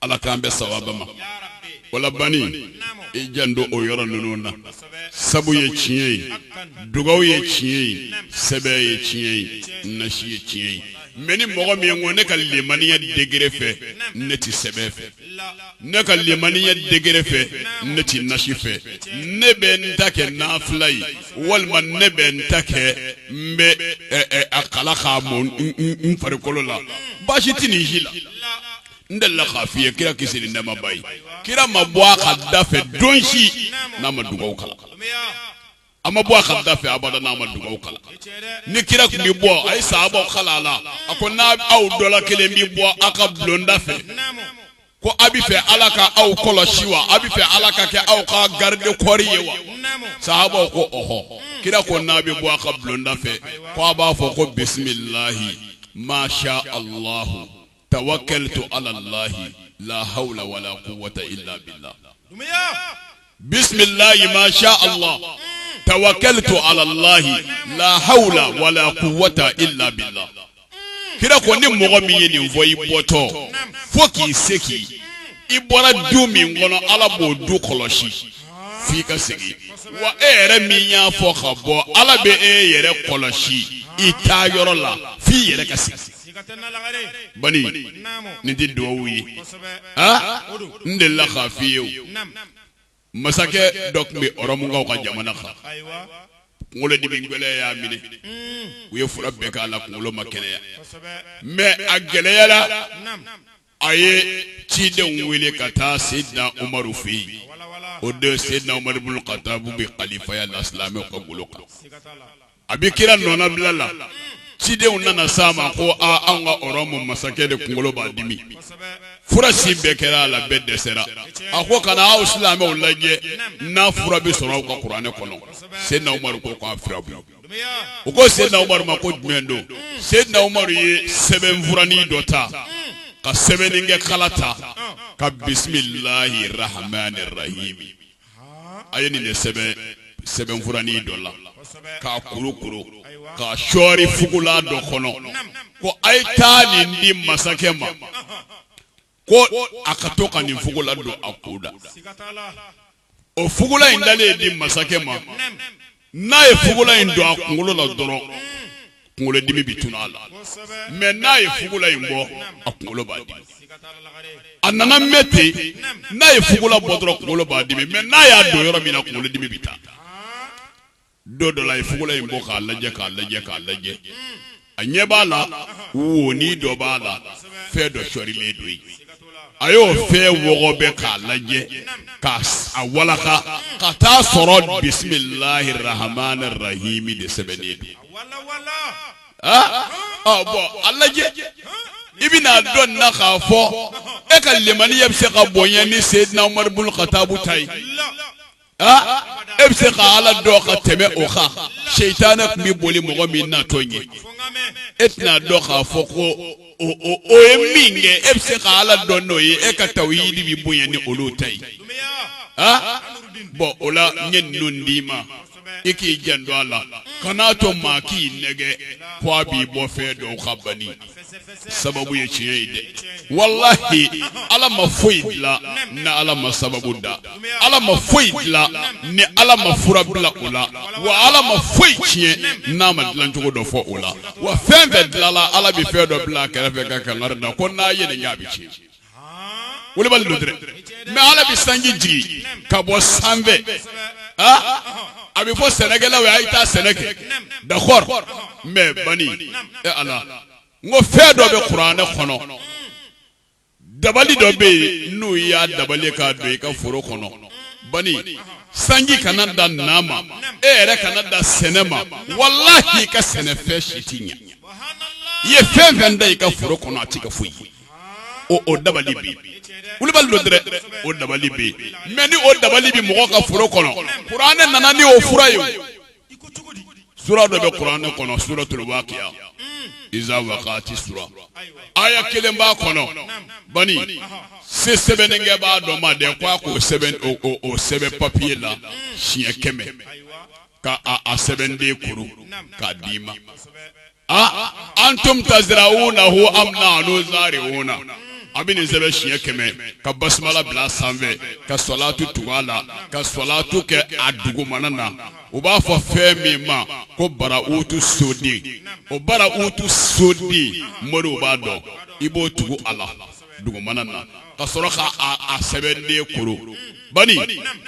ala k'an bɛn sawaba ma o la bani i janto o yɔrɔ ninnu na sabu ye tiɲɛ ye dugaw ye tiɲɛ ye sɛbɛn ye tiɲɛ ye nasi ye tiɲɛ ye mɛ ni mɔgɔ min ko ne ka limaniya degere fɛ ne tɛ sɛbɛn fɛ ne ka limaniya degere fɛ ne tɛ nasi fɛ ne bɛ n ta kɛ nafila ye walima ne bɛ n ta kɛ n bɛ a kalan k'a mu n farikolo la baasi tɛ nin si la n delila k'a f'i ye kira kisi ni nɛɛma b'a ye kira ma bɔ a ka da fɛ don si n'a ma dugaw kalan a ma bɔ a ka da fɛ abada n'a ma dugaw kalan ni kira tun bɛ bɔ a ye sahabaw kalan a la a ko ni aw dɔ la kelen bɛ bɔ a ka bulonda fɛ ko a b'a fɛ ala ka aw kɔlɔsi wa a b'a fɛ ala ka kɛ aw ka garide kɔɔri ye wa sahabaw ko ɔhɔ kira ko n'a bɛ bɔ a ka bulonda fɛ ko a b'a fɔ ko bisimilahi masha alahu tawakaltu alalahi lahawula wala kuwata ila bila bisimilahi masha ala tawakaltu alalahi lahawula wala kuwata ila bila kira ko ni mɔgɔ min ye nin fɔ i bɔtɔ fo k'i segin i bɔra du min kɔnɔ ala b'o du kɔlɔsi f' i ka segin wa e yɛrɛ min y'a fɔ ka bɔ ala bɛ e yɛrɛ kɔlɔsi i taa yɔrɔ la f' i yɛrɛ ka segin nin tɛ dugawu ye n delila k'a fɔ i ye masakɛ dɔ tun bɛ Ɔrɔmukaw ka jamana kan kunkolodimi gɛlɛn y'a minɛ u ye fura bɛɛ k'a la kunkolo ma kɛnɛya mɛ a gɛlɛyara a ye cidenw wele ka taa Seydina Umaru fɛ yen, o don Seydina Umaru bun Katabu bɛ kalifaya la silamɛw ka golo kan, a bɛ kira nɔnabila la, cidenw nana se a ma ko aa anw ka Ɔrɔmu masakɛ de kunkolo b'a dimi, fura si bɛɛ kɛra a la bɛɛ dɛsɛra, a ko ka na aw silamɛw lajɛ n'a fura bɛ sɔrɔ aw ka kuranɛ kɔnɔ, Seydina Umaru ko k'a fura bɛ yen u ko Seydina Umaru ma ko jumɛn don Seydina Umaru ye sɛbɛnfuranin dɔ ta ka sɛbɛnnikɛkala ta ka bisimilahi rahamani rahimi a ye nin sɛbɛn sɛbɛnfuranin dɔ la k'a kurukuru k'a sɔɔri fugula dɔ kɔnɔ ko a ye taa nin di masakɛ ma ko a ka to ka nin fugula don a kun na o fugula in dalen ye di masakɛ ma n'a ye fugula in don a kunkolo la dɔrɔn kunkolodimi bɛ tunu a la mɛ n'a ye fugula in bɔ a kunkolo b'a dimi a nana mɛɛn ten n'a ye fugula bɔ dɔrɔn kunkolo b'a dimi mɛ n'a y'a don yɔrɔ min na kunkolodimi bɛ taa don dɔ la a ye fugula in bɔ k'a lajɛ k'a lajɛ k'a lajɛ a ɲɛ b'a la woni dɔ b'a la fɛn dɔ sɔrilen don yen a y'o fɛn wɔgɔbɛ k'a lajɛ k'a walaka ka t'a sɔrɔ bisimilahi rahamani rahimi de sɛbɛnnen don bɔn a lajɛ i bɛna dɔn na k'a fɔ e ka lemaniya bɛ se ka bonya ni sedina umaru bun katabu ta ye e bɛ se ka ala dɔn ka tɛmɛ o kan setanɛ tun bɛ boli mɔgɔ min natɔ ɲɛ e tɛna dɔn k'a fɔ ko o ye min kɛ e bɛ se ka ala dɔn n'o ye e ka tawuhidi bɛ bonya ni olu ta ye bɔn o la n ye ninnu d'i ma i k'i janto a la kan'a to maa k'i nɛgɛn k' a b'i bɔ fɛn dɔw kan bani sababu ye tiɲɛ ye dɛ walahi ala ma foyi dilan ni ala ma sababu da ala ma foyi dilan ni ala ma fura bila o la wa ala ma foyi tiɲɛ n'a ma dilancogo dɔ fɔ o la wa fɛn fɛn dilala ala bɛ fɛn dɔ bila a kɛrɛfɛ ka kangari da ko n'a ye nin kɛ a bɛ tiɲɛ wulibali don dɛrɛ mɛ ala bɛ sanji jigin ka bɔ sanfɛ aa a bɛ fɔ sɛnɛkɛlaw ye a ye taa sɛnɛ kɛ dakɔr mɛ bani e ala n ko fɛn dɔ bɛ kuranɛ kɔnɔ dabali dɔ bɛ yen n'u y'a dabali k'a don i ka foro kɔnɔ bani sanji kana dan na ma e yɛrɛ kana dan sɛnɛ ma walahi i ka sɛnɛfɛn si tɛ ɲɛ i ye fɛn fɛn dan i ka foro kɔnɔ a t'i ka foyi ye o dabali bɛ wulibali don dɛrɛ o dabali bɛ mɛ ni o dabali bɛ mɔgɔ ka foro kɔnɔ kuranɛ nana ni o fura ye sura dɔ bɛ kuranɛ kɔnɔ suratul wakiya iza wakati sura aya kelen b'a kɔnɔ bani se sɛbɛnnikɛbaa dɔ ma dɛ ko a k'o sɛbɛn o sɛbɛn papiye la siɲɛ kɛmɛ k' a sɛbɛnden kuru k'a d' i ma antum tazira'unahu am nahnu zari'una a bɛ nin sɛbɛn siɲɛ kɛmɛ ka basumala bila sanfɛ ka sɔlatu tugu a la ka sɔlatu kɛ a dugumana na u b'a fɔ fɛn min ma ko bara utu soden o bara utu soden moriw b'a dɔn i b'o tugu a la dugumana na ka sɔrɔ ka a sɛbɛnden kuru bani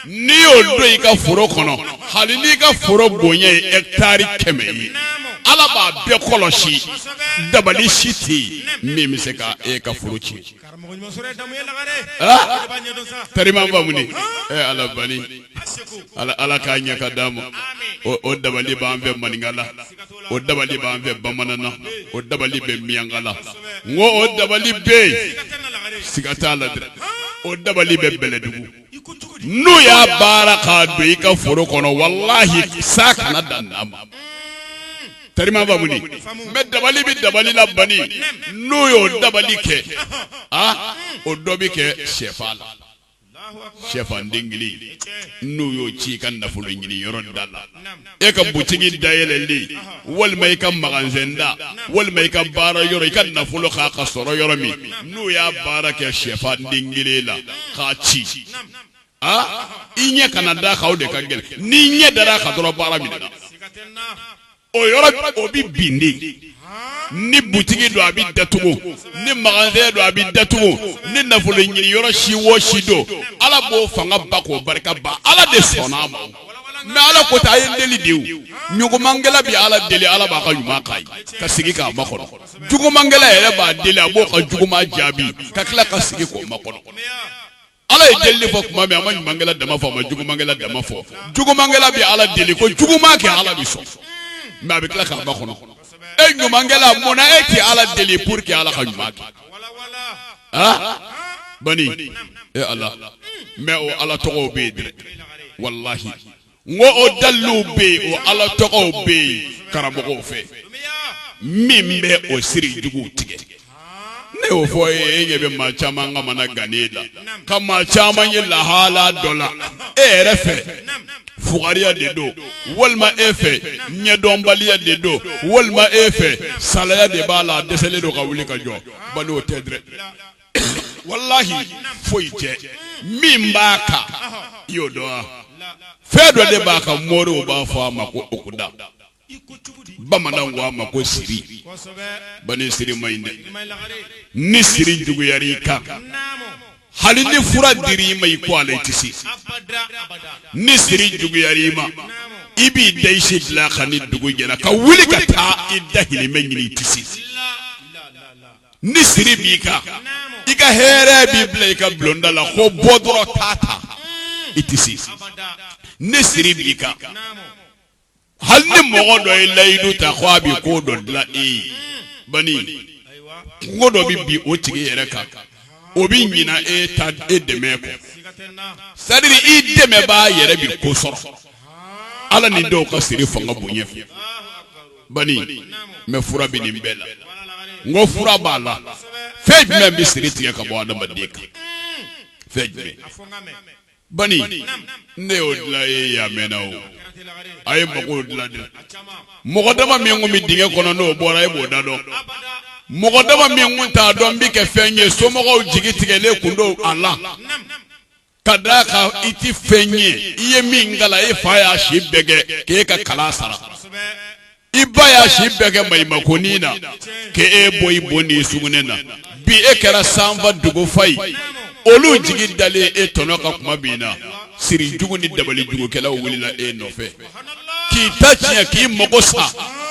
n'i y'o don i ka foro kɔnɔ hali n'i ka foro bonya ye hectare kɛmɛ ye ala b'a bɛɛ kɔlɔsi dabali si tɛ yen min bɛ se ka e ka foro tiɲɛ karima bamuni ɛ ala bani ala k'a ɲɛ ka d'a ma o dabali b'an fɛ maninkala o dabali b'an fɛ bamanan na o dabali bɛ miyanka la n ko o dabali bɛ yen siga t'a la dɛ o dabali bɛ bɛlɛdugu n'o y'a baara k'a don i ka foro kɔnɔ walahi sa kana dan d'a ma terima ba wuli mɛ dabali bɛ dabali la bani n'o y'o dabali kɛ a o dɔ bɛ kɛ shɛfan la shɛfan den kelen n'o y'o ci i ka nafolo ɲini yɔrɔ da la e ka butigi dayɛlɛnlen walima i ka maganzɛn da walima i ka baara yɔrɔ i ka nafolo kan ka sɔrɔ yɔrɔ min n'o y'a baara kɛ shɛfan den kelen la k'a ci aa i ɲɛ kana d'a kan o de ka gɛlɛn n'i ɲɛ dara a kan dɔrɔn baara minɛna o yɔrɔ o bɛ bin de ni butigi don a bɛ datugu ni maganzɛn don a bɛ datugu ni nafolo ɲini yɔrɔ si o si don ala b'o fanga ban k'o barika ban ala de sɔnn'o ma mɛ ala ko a ye deli dɛ ɲumankɛla bɛ ala deli ala b'a ka ɲuman kɛ ka sigi k'a makɔnɔ jugumankɛla yɛrɛ b'a deli a b'o ka juguman jaabi ka tila ka sigi k'o makɔnɔ Ala ye deli fɔ tuma min a ma ɲumankɛla dama fɔ a ma jugumankɛla dama fɔ jugumankɛla bɛ ala deli ko juguman kɛ ala bɛ sɔn mɛ a bɛ tila k'a makɔnɔ e ɲumankɛla munna e tɛ ala deli pour que ala ka ɲuman kɛ bani ala mɛ o ala tɔgɔ bɛ yen dɛ walahi N ko o daliluw bɛ yen, o Ala tɔgɔw bɛ yen karamɔgɔw fɛ min bɛ o siri juguw tigɛ. Ne y'o fɔ aw ye, e ɲɛ bɛ maa caman ka mana gannen la, ka maa caman ye lahala dɔ la e yɛrɛ fɛ fugariya de don walima e fɛ ɲɛdɔnbaliya de don walima e fɛ salaya de b'a la a dɛsɛlen don ka wuli ka jɔ bani o tɛ dɛ. walahi foyi tɛ min b'a kan i y'o dɔn wa fɛn dɔ de b'a kan moriw b'a fɔ a ma ko okuda bamananw ko a ma ko siri bani siri ma ɲi dɛ ni siri juguyara i kan hali ni fura dira i ma i ko ale tɛ se ni siri juguyara i ma i b'i da i si dilan kan ni dugu jɛra ka wuli ka taa i dahirimɛ ɲini i tɛ se ni siri b'i kan i ka hɛrɛ bɛ bila i ka bulonda la ko bɔ dɔrɔn t'a ta i tɛ se ni siri b'i kan hali ni mɔgɔ dɔ ye layidu ta ko a bɛ ko dɔ dilan e ye bani kunko dɔ bɛ bin o tigi yɛrɛ kan o bɛ ɲina e ta e dɛmɛ kɔ c'est-à-dire i dɛmɛbaa yɛrɛ bɛ ko sɔrɔ ala ni dɔw ka siri fanga bonya fɛ bani mɛ fura bɛ nin bɛɛ la n ko fura b'a la fɛn jumɛn bɛ siri tigɛ ka bɔ adamaden kan fɛn jumɛn bani ne y'o dilan ye yaa mɛnna o a ye mɔgɔw dilan dɛ mɔgɔ dama minnu bɛ dingɛ kɔnɔ n'o bɔra e b'o da dɔn mɔgɔ dama minnu t'a dɔn bɛ kɛ fɛn ye somɔgɔw jigi tigɛlen kun don a la ka d'a kan i ti fɛn ɲɛ i ye min kalan e fa y'a si bɛɛ kɛ k'e ka kalan sara i ba y'a si bɛɛ kɛ maɲumakonin na k'e bɔ i bo n'i sugunɛ na bi e kɛra sanfa dugufa ye olu jigi dalen e tɔnɔ kan kuma min na siri jugu ni dabali jugukɛlaw wulila e nɔfɛ k'i ta tiɲɛ k'i mago sa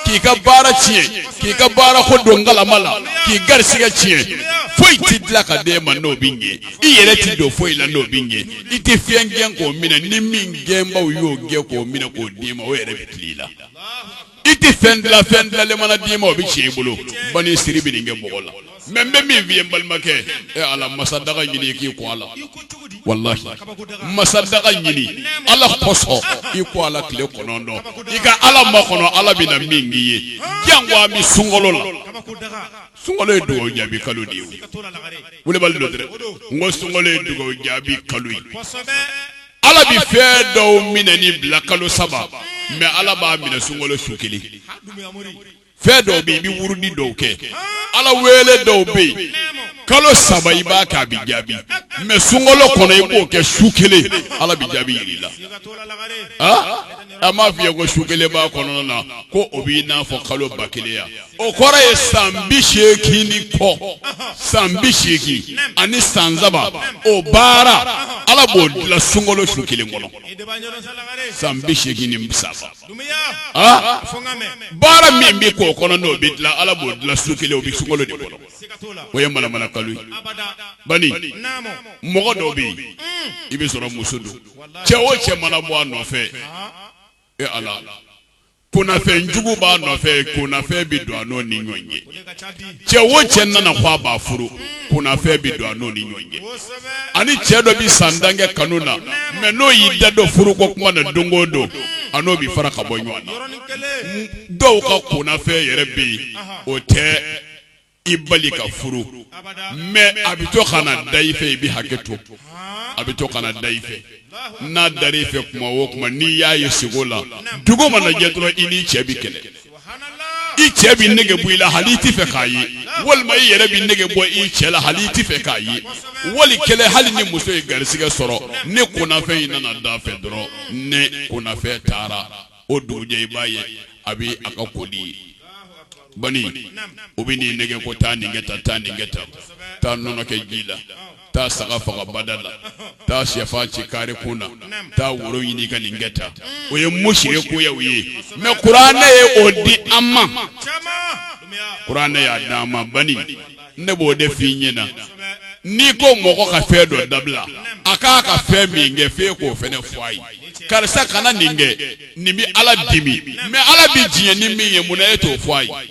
k'i ka baara tiɲɛ k'i ka baara ko don galama la k'i garisɛgɛ tiɲɛ foyi tɛ dilan ka d'e ma n'o bɛ ɲɛ i yɛrɛ tɛ don foyi la n'o bɛ ɲɛ i tɛ fɛn gɛn k'o minɛ ni min gɛnbaw y'o gɛn k'o minɛ k'o d'i ma o yɛrɛ bɛ tiɲɛ i la i tɛ fɛn dilan fɛn dilanlen mana d'i ma o bɛ tiɲɛ i bolo bani siri bɛ nin kɛ mɔgɔ la. mɛ n bɛ min f'i ye balimakɛ e ala masa daga ɲini k'i ko a la walayi masa daga ɲini ala kosɔn i ko a la tile kɔnɔntɔn i ka ala makɔnɔ ala bɛ na min k'i ye janko an bɛ sunkolo la sunkolo ye dugawu jaabi kalo de ye wulibali don dɛ n ko sunkolo ye dugawu jaabi kalo ye ala bɛ fɛn dɔw minɛni bila kalo saba mɛ ala b'a minɛ sunkolo su kelen fɛn dɔw bɛ yen i bɛ wurudi dɔw kɛ ala wele dɔw bɛ yen kalo saba i b'a kɛ a bɛ jaabi mɛ sunkolo kɔnɔ i b'o kɛ su kelen ala bɛ jaabi jira i la a m'a f'i ye ko su kelen b'a kɔnɔna na ko o b'i n'a fɔ kalo ba kelen ya o kɔrɔ ye san bi seegin ni kɔ san bi seegin ani san saba o baara ala b'o dilan sunkolo su kelen kɔnɔ san bi seegin ni saba baara min bɛ k'o kɔnɔ n'o bɛ dilan ala b'o dilan su kelen o bɛ sunkolo de kɔnɔ o ye manamana kalo ye bani mɔgɔ dɔw bɛ yen i bɛ sɔrɔ muso don cɛ o cɛ mana bɔ a nɔfɛ e ala kunafɛn jugu b'a nɔfɛ kunafɛn bɛ don a n'o ni ɲɔgɔn cɛ cɛ wo cɛ nana ko a b'a furu kunafɛn bɛ don a n'o ni ɲɔgɔn cɛ a ni cɛ dɔ bɛ san tan kɛ kanu na mɛ n'o y'i da don furu ko kuma na don o don a n'o bɛ fara ka bɔ ɲɔgɔn na dɔw ka kunafɛn yɛrɛ bɛ yen o tɛ i bali ka furu mɛ a bɛ to ka na da i fɛ i bɛ hakɛ to a bɛ to ka na da i fɛ n'a dara i fɛ kuma o kuma n'i y'a ye sugo la dugu mana jɛ dɔrɔn i ni cɛ bɛ kɛlɛ i cɛ bɛ nege bɔ i la hali i t'a fɛ k'a ye walima i yɛrɛ bɛ nege bɔ i cɛ la hali i t'a fɛ k'a ye wali kɛlɛ hali ni muso ye garisɛgɛ sɔrɔ ni kunnafɛn in nana da fɛ dɔrɔn ni kunnafɛn taara o dugujɛ i b'a ye a bɛ a ka koli ye bani o bɛ e nɛgɛn ko taa nin kɛ taa taa nin kɛ taa taa nɔnɔ kɛ ji la taa saga faga bada la taa shɛfan ci kare kun na taa woro ɲini ka nin kɛ tan o ye musirikiya ye mɛ kuranɛ ye o di an ma kuranɛ y'a di an ma bani ne b'o de f'i ɲɛna n'i ko mɔgɔ ka fɛn dɔ dabila a ka kan ka fɛn min kɛ f'e k'o fɛnɛ fɔ a ye karisa kana nin kɛ nin bɛ ala dimi mɛ ala bɛ diɲɛ ni min ye mun na e t'o fɔ a ye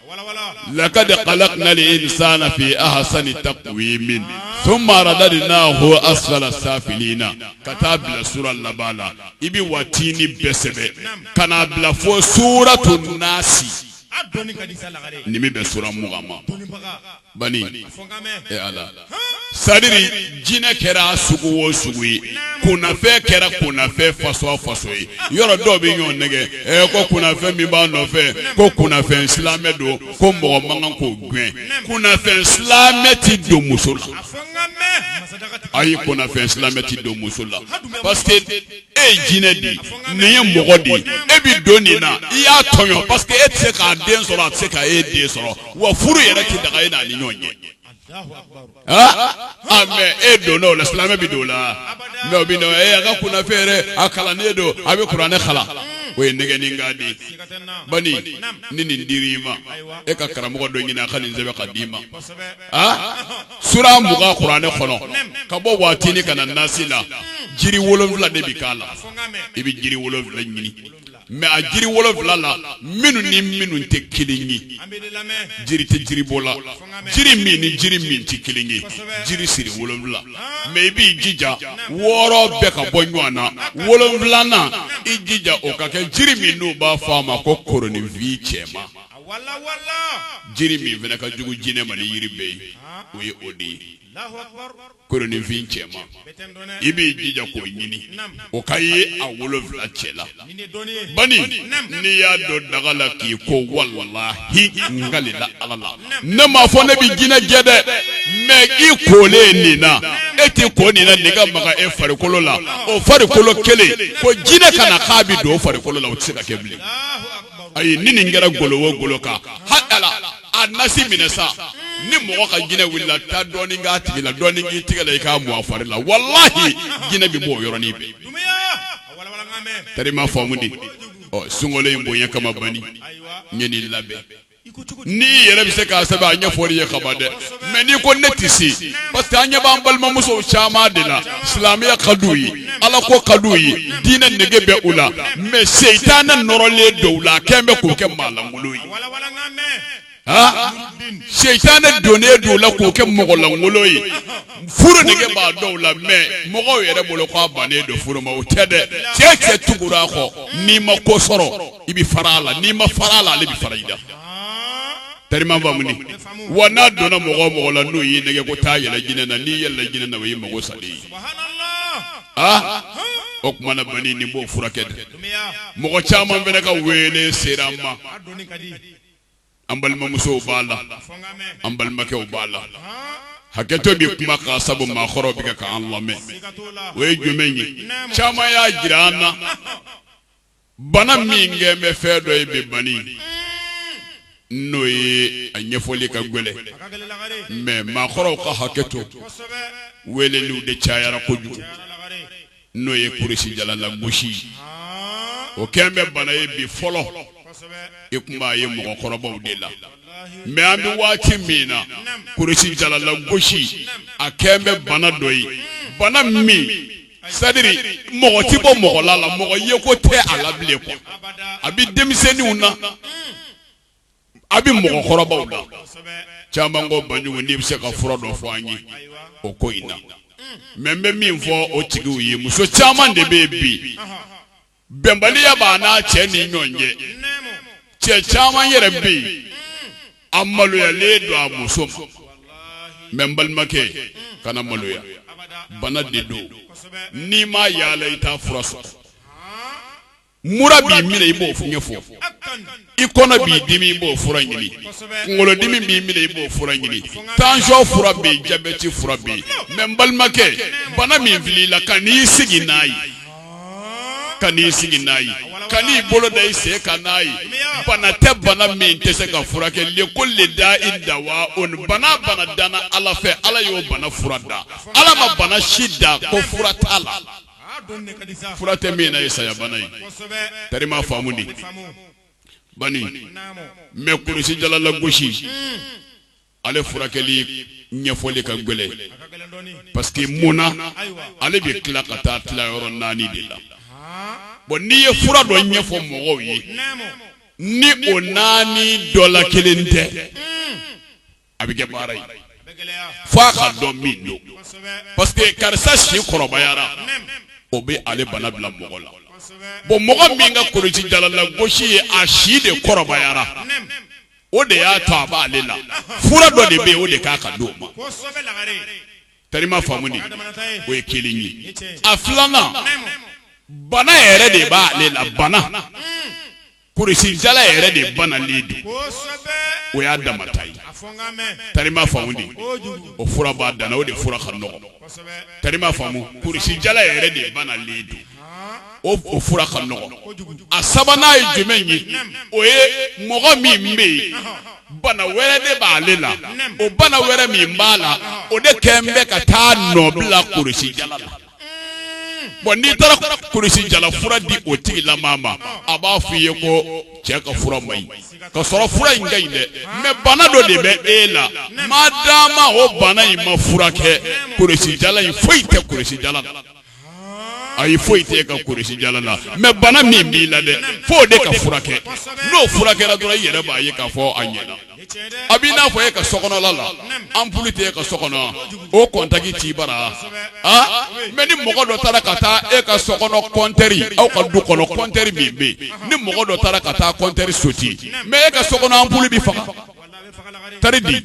Laka alali san ta min to mara da n'a fɔ a sula sa na ka taa bila su laban la i bɛ waati ni bɛɛ sɛbɛn ka n'a bila fɔ su to nasi ni bɛ suma ma bani e ala sadiri jinɛ kɛra sugu o sugu ye kunnafɛn kɛra kunnafɛn fasɔn o fasɔn ye yɔrɔ dɔw bɛ ɲɔgɔn nɛgɛn ɛ ko kunnafɛn min b'a nɔfɛ ko kunnafɛn silamɛ don ko mɔgɔ man kan k'o gɛn kunnafɛn silamɛ tɛ don muso la ayi kunnafɛn silamɛ tɛ don muso la parce que e ye jinɛ de ye nin ye mɔgɔ de ye e bɛ don nin na i y'a tɔɲɔ parce que e tɛ se k'a den sɔrɔ a tɛ se ka e den sɔrɔ wa furu yɛrɛ tɛ daga e n'a ni ɲɔgɔn cɛ aa mɛ e donna o la silamɛ bɛ don o la mɛ o bɛ na e a ka kunnafɛn yɛrɛ a kalannen don a bɛ kuranɛ kalan o ye nɛgɛnni kan de bani ni nin dira i ma e ka karamɔgɔ dɔ ɲini a ka nin sɛbɛn ka d'i ma sura mugan kuranɛ kɔnɔ ka bɔ watini ka na nasi la jiri wolonfila de bɛ k'a la i bɛ jiri wolonfila ɲini mɛ a jiri wolonfila la minnu ni minnu tɛ kelen ye jiri tɛ jiri bɔ la jiri min ni jiri min tɛ kelen ye jiri siri wolonfila mɛ i b'i jija wɔɔrɔ bɛɛ ka bɔ ɲɔgɔn na wolonfilanan i jija o ka kɛ jiri min n'u b'a fɔ a ma ko koroninfin cɛman jiri min fana ka jugu jinɛ ma ni yiri bɛɛ ye o ye o de ye koroninfin cɛman i b'i jija k'o ɲini o ka ye a wolonfila cɛ la bani n'i y'a don daga la k'i ko walahi n kalila ala la ne m'a fɔ ne bɛ jinɛ gɛn dɛ mɛ i kolen nin na e tɛ ko nin na nin ka maga e farikolo la o farikolo kelen ko jinɛ ka na k'a bɛ don o farikolo la o tɛ se ka kɛ bilen ayi ni nin kɛra golo o golo kan hakala a nasi minɛ sa ni mɔgɔ ka jinɛ wulila taa dɔɔni k'a tigi la dɔɔni k'i tigɛ la i k'a mu a fari la walahi jinɛ bɛ bɔ o yɔrɔnin bɛɛ tari i m'a faamu dɛ ɔ sunkalo in bonya kama bani n ye nin labɛn n'i yɛrɛ bɛ se k'a sɛbɛn a ɲɛfɔli ye kaba dɛ mɛ n'i ko ne tɛ se parce que an ɲɛ b'an balimamuso caman de la silamɛya ka d'u ye ala ko ka d'u ye diinɛ nege bɛ u la mɛ setanɛ nɔrɔlen dɔw la kɛlen bɛ k'o kɛ maalankolon ye setanɛ donnen dɔw la k'o kɛ mɔgɔlankolon ye furu nege b'a dɔw la mɛ mɔgɔw yɛrɛ bolo k'a bannen don furu ma o tɛ dɛ cɛ cɛ tugura a kɔ n'i ma ko sɔrɔ i bɛ fara a la n'i ma fara a la ale bɛ fara i la tellement famuni wa n'a donna mɔgɔ o mɔgɔ la n'o y'i nɛgɛn ko taa yɛlɛ jinɛ na n'i yɛlɛla jinɛ na o y'i mago salen ye ah o tuma na bani nin b'o furakɛ dɛ mɔgɔ caman fana ka wele sera an ma an balimamusow b'a la an balimakɛw b'a la hakɛto bɛ kuma kan sabu maakɔrɔw bɛ k'an lamɛn o ye jumɛn ye caman y'a jira an na bana min kɛlen bɛ fɛn dɔ ye bi bani n'o ye a ɲɛfɔli ka gɛlɛn mɛ maakɔrɔw ka hakɛ to weledenw de cayara kojugu n'o ye kurusijala lagosi o kɛlen bɛ bana ye bi fɔlɔ i tun b'a ye mɔgɔkɔrɔbaw de la mɛ an bɛ waati min na kurusijala lagosi a kɛlen bɛ bana dɔ ye bana min c'est-à-dire mɔgɔ tɛ bɔ mɔgɔ la la mɔgɔ ye ko tɛ a la bilen quoi a bɛ denmisɛnninw na a bɛ mɔgɔkɔrɔbaw la caman ko banjugu n'i bɛ se ka fura dɔ fɔ an ye o ko in na mɛ n bɛ min fɔ o tigiw ye muso caman de bɛ yen bi bɛnbaliya b'a n'a cɛ ni ɲɔgɔn cɛ cɛ caman yɛrɛ bɛ yen a maloyalen don a muso ma mɛ n balimakɛ kana maloya bana de don n'i ma yaala i t'a fura sɔrɔ mura b'i minɛ i b'o ɲɛfɔ i kɔnɔ b'i dimi i b'o fura ɲini kunkolodimi b'i minɛ i b'o fura ɲini tansiyɔn fura bɛ yen jabɛti fura bɛ yen mɛ n balimakɛ bana min filɛ i la kan'i sigi n'a ye kan'i sigi n'a ye kan'i bolo da i sen kan n'a ye bana tɛ bana min tɛ se ka furakɛ likuli dayi dawawuni bana bana danna ala fɛ ala y'o bana fura da ala ma bana si da ko fura t'a la fura tɛ min na ye sayabana ye tari i m'a faamu de bani mais kurusijala lagosi hmm. ale furakɛli ɲɛfɔli ka gɛlɛn parce que munna ale bɛ tila ka taa tila yɔrɔ naani de la bon n'i ye fura dɔ ɲɛfɔ mɔgɔw ye ni o naani dɔ la kelen tɛ hmm. a bɛ kɛ baara ye fo a ka dɔn min don parce que karisa si kɔrɔbayara o bɛ ale bana bila mɔgɔ la bon mɔgɔ min ka kulusijala lagosi ye a si de kɔrɔbayara o de y'a to a b'ale la fura dɔ de bɛ o de ka kan ka di o ma tari i m'a faamu de o ye kelen ye a filanan bana yɛrɛ de b'ale la bana kurusijala yɛrɛ de banalen don o y'a dama ta ye tari i m'a faamu de o fura b'a dan o de fura ka nɔgɔ tari i m'a faamu kurusijala yɛrɛ de banalen don o fura ka nɔgɔ a sabanan ye jumɛn ye o ye mɔgɔ min bɛ yen bana wɛrɛ de b'ale la o bana wɛrɛ min b'a la o de kɛ bɛ ka taa nɔ bila kurusijala la Bon n'i taara kulusi jala fura di o tigilamaa ma a b'a fɔ i ye ko cɛ ka fura man ɲi ka sɔrɔ fura in ka ɲi dɛ mɛ bana dɔ de bɛ e la ma d'a o bana in ma fura kɛ kulusi jala in foyi tɛ kulusi jala la a ye foyi tɛ e ka kulusi jala la mɛ bana min b'i la dɛ fo o de ka furakɛ n'o furakɛra dɔrɔn i yɛrɛ b'a ye k'a fɔ a ɲɛna A bɛ i n'a fɔ e ka so kɔnɔ la anpulu tɛ e ka so kɔnɔ o kɔntaki tɛ baara mɛ ni mɔgɔ dɔ taara ka taa e ka so kɔnɔ kɔntɛri aw ka du kɔnɔ kɔntɛri min bɛ yen ni mɔgɔ dɔ taara ka taa kɔntɛri sote mɛ e ka so kɔnɔ anpulu bɛ faga tari di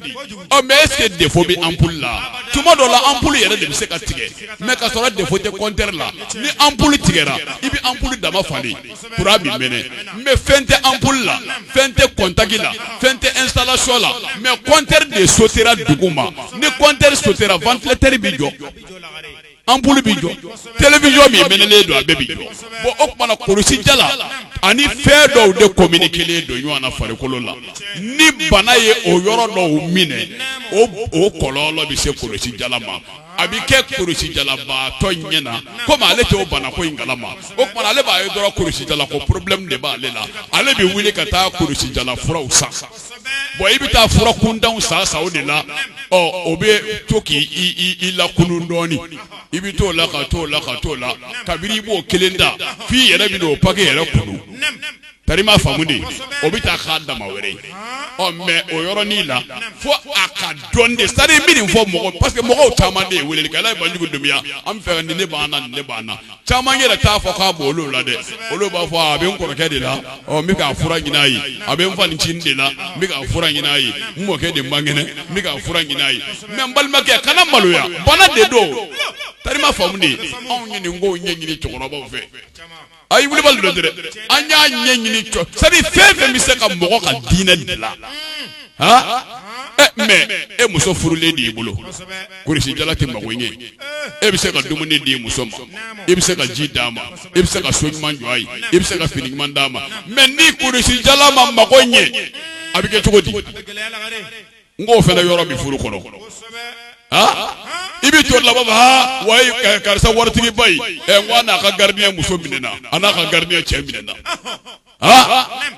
o mɛ ɛsike defo bɛ anpulu la tuma dɔ la anpulu yɛrɛ de bɛ se ka tigɛ mɛ ka sɔrɔ defo tɛ kɔntɛri la ni anpulu tigɛra i bɛ anpulu dama falen kura bɛ mɛnɛ mɛ fɛn tɛ anpulu la fɛn tɛ kɔntaki la fɛn tɛ installation la mɛ kɔntɛri de sotera duguma ni kɔntɛri sotera wantilatɛri bɛ jɔ anpulu bɛ jɔ télévision min mɛnɛnen don a bɛɛ bɛ jɔ bon o tuma na kulusijala ani fɛn dɔw de kominikelen don ɲɔgɔn na farikolo la ni bana ye o yɔrɔ dɔw minɛ o o kɔlɔlɔ bɛ se kulusijala ma a bɛ kɛ kulusijalabaatɔ ɲɛ na komi ale tɛ o bana ko in kala ma o tuma na ale b'a ye dɔrɔn kulusijala ko porobilɛmu de b'ale la ale bɛ wuli ka taa kulusijala furaw san bon i bɛ taa fura kuntanw san san o de la ɔ o bɛ to k'i lakunun dɔɔni i bɛ t'o la ka t'o la ka t'o la kabini i b'o kelen ta f'i yɛrɛ bɛna o pake yɛrɛ kunu terima faamu dɛ o bɛ taa k'a dama wɛrɛ ye ɔ mɛ o yɔrɔnin la fo a ka dɔn de sari bɛ nin fɔ mɔgɔ parce que mɔgɔw caman de ye wele kala ye banjugu dunya an fɛ nin bana na nin bana na caman yɛrɛ t'a fɔ k'a b'olu la dɛ olu b'a fɔ a bɛ n kɔrɔkɛ de la ɔ n bɛ k'a fura ɲin'a ye a bɛ n fa ncinin de la n bɛ k'a fura ɲin'a ye n mɔkɛ de man kɛnɛ n bɛ k'a fura ɲin'a ye mɛ n balimakɛ kana maloya bana de don terima faamu dɛ anw ye nin ko ɲɛ ɲini cɛkɔrɔbaw fɛ A ye wuli dɛ an y'a ɲɛ ɲini jɔ sabu fɛn fɛn bɛ se ka mɔgɔ ka diinɛ dilan mɛ e muso furulen de y'i bolo kulusijala tɛ mako ɲɛ e bɛ se ka dumuni di muso ma e bɛ se ka ji d'a ma e bɛ se ka so ɲuman jɔ a ye e bɛ se ka fini ɲuman d'a ma mɛ ni kulusijala ma mako ɲɛ a bɛ kɛ cogo di n k'o fana yɔrɔ bɛ furu kɔnɔ i bɛ jɔ laban wa karisa waritigiba n'a ka gardien muso minɛna a n'a ka gardien cɛ minɛna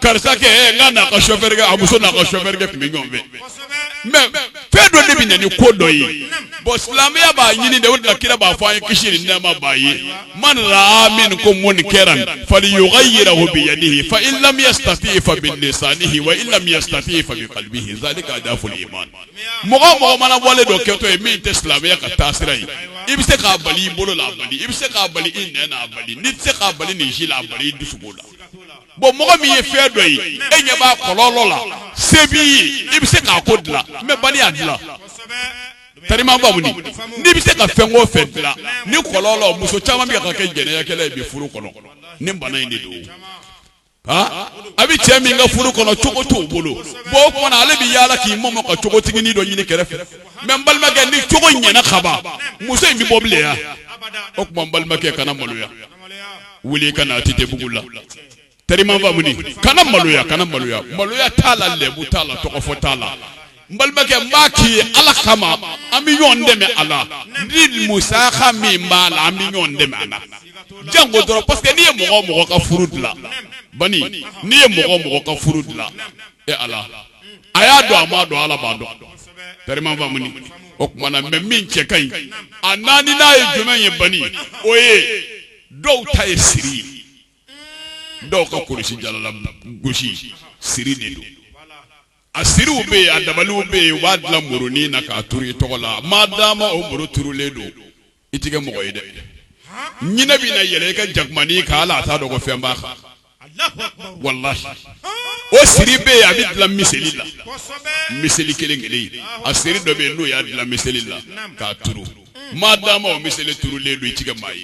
karisa n'a ka sofɛrikɛ a muso n'a ka sofɛrikɛ tun bɛ ɲɔgɔn fɛ mɛ fɛn dɔ de bɛ na ni ko dɔ ye bɔn silamɛya b'a ɲini de o de la kira b'a fɔ an ye kisi ni nɛɛma b'a ye man raa minkum munkaran falyugayyirhu bi yadihi fa in lam yastati fa bi lisanihi wa in lam yastati fa bi qalbihi zalika adaful iman mɔgɔ mɔgɔ mana wale dɔ kɛtɔ ye min tɛ silamɛya ka taasira ye i bɛ se k'a bali i bolo la a bali i bɛ se k'a bali i nɛn na a bali n'i tɛ se k'a bali nin si la a bali i dusukun la bɔn mɔgɔ min ye fɛn dɔ ye e ɲɛ b'a kɔlɔlɔ la se b'i ye i bɛ se k'a ko dilan mɛ bali a dilan terima faamu dɛ n'i bɛ se ka fɛn o fɛn dilan nin kɔlɔlɔ muso caman bɛ ka kɛ jɛnɛyakɛla ye bi furu kɔnɔ nin bana in de don a bɛ cɛ min ka furu kɔnɔ cogo t'o bolo bon o kuma na ale bɛ yaala k'i mɔmɔ ka cogotiginin dɔ ɲini kɛrɛfɛ mais n balimakɛ ni cogo ɲɛna kaban muso in bɛ bɔ bilen ya o tuma n balimakɛ kana maloya wuli i ka na ATT bugu la. terima faamu dɛ kana maloya kana maloya maloya t'a la lɛbu t'a la tɔgɔfɔ t'a la n balimakɛ n b'a k'i ye ala kama an bɛ ɲɔgɔn dɛmɛ a la ni musaka min b'a la an bɛ ɲɔgɔn dɛmɛ a la janko dɔrɔn parce que n'i ye mɔgɔ mɔgɔ ka furu dilan ani n'i ye mɔgɔ mɔgɔ ka furu dilan e ala a y'a dɔn a m'a dɔn ala b'a dɔn terima faamu dɛ o tuma na mɛ min cɛ ka ɲi a naaninan ye jumɛn ye bani o ye dɔw ta ye siri ye. dɔw ka kulusijala lagosi siri de don a siriw bɛ yen a dabaliw bɛ yen u b'a dilan murunin na k'a turu i tɔgɔ la maa d'a ma o muru turulen don i tɛ kɛ mɔgɔ ye dɛ ɲinɛ bɛ na yɛlɛn i ka jakumanin kan hali a t'a dɔn ko fɛn b'a kan walahi o siri bɛ yen a bɛ dilan miseli la miseli kelen kelen a siri dɔ bɛ yen n'u y'a dilan miseli la k'a turu maa dama o miseli turulen don i ti kɛ maa ye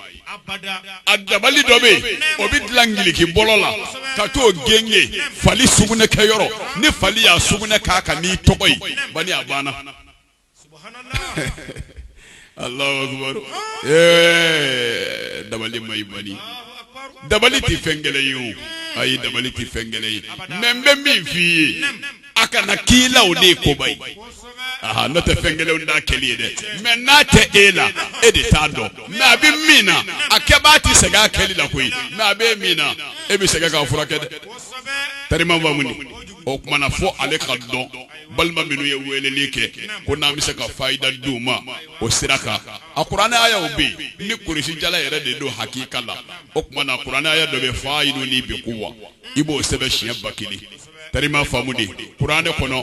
a dabali dɔ bɛ yen o bɛ dilan ngiliki bɔlɔ la ka t'o gengen fali sugunɛ kɛ yɔrɔ ni fali y'a sugunɛ k'a kan n'i tɔgɔ ye bani a banna Allahu akibaru ee dabali ma ɲi bani dabali tɛ fɛn gɛlɛn ye o ayi dabali tɛ fɛn gɛlɛn ye mais n bɛ min f'i ye a kana k'i la o de ye koba ye aha n'o tɛ fɛn gɛlɛn t'a kɛli ye dɛ mɛ n'a tɛ e la e de t'a dɔn mɛ a bɛ min na a kɛbaa tɛ sɛgɛn a kɛli la koyi mɛ a bɛ min na e bɛ sɛgɛn k'a furakɛ dɛ tariman faamu o tuma na fo ale k'a dɔn balima minnu ye weleli kɛ ko n'an bɛ se ka fayida di u ma o sira kan a kuranɛ ayaw bɛ yen ni kurusi jala yɛrɛ de don hakika la o tuma na kuranɛ aya dɔ bɛ fayidun ni bɛ ko wa i b'o sɛbɛn siɲɛ ba kelen tariman faamu de kuranɛ kɔnɔ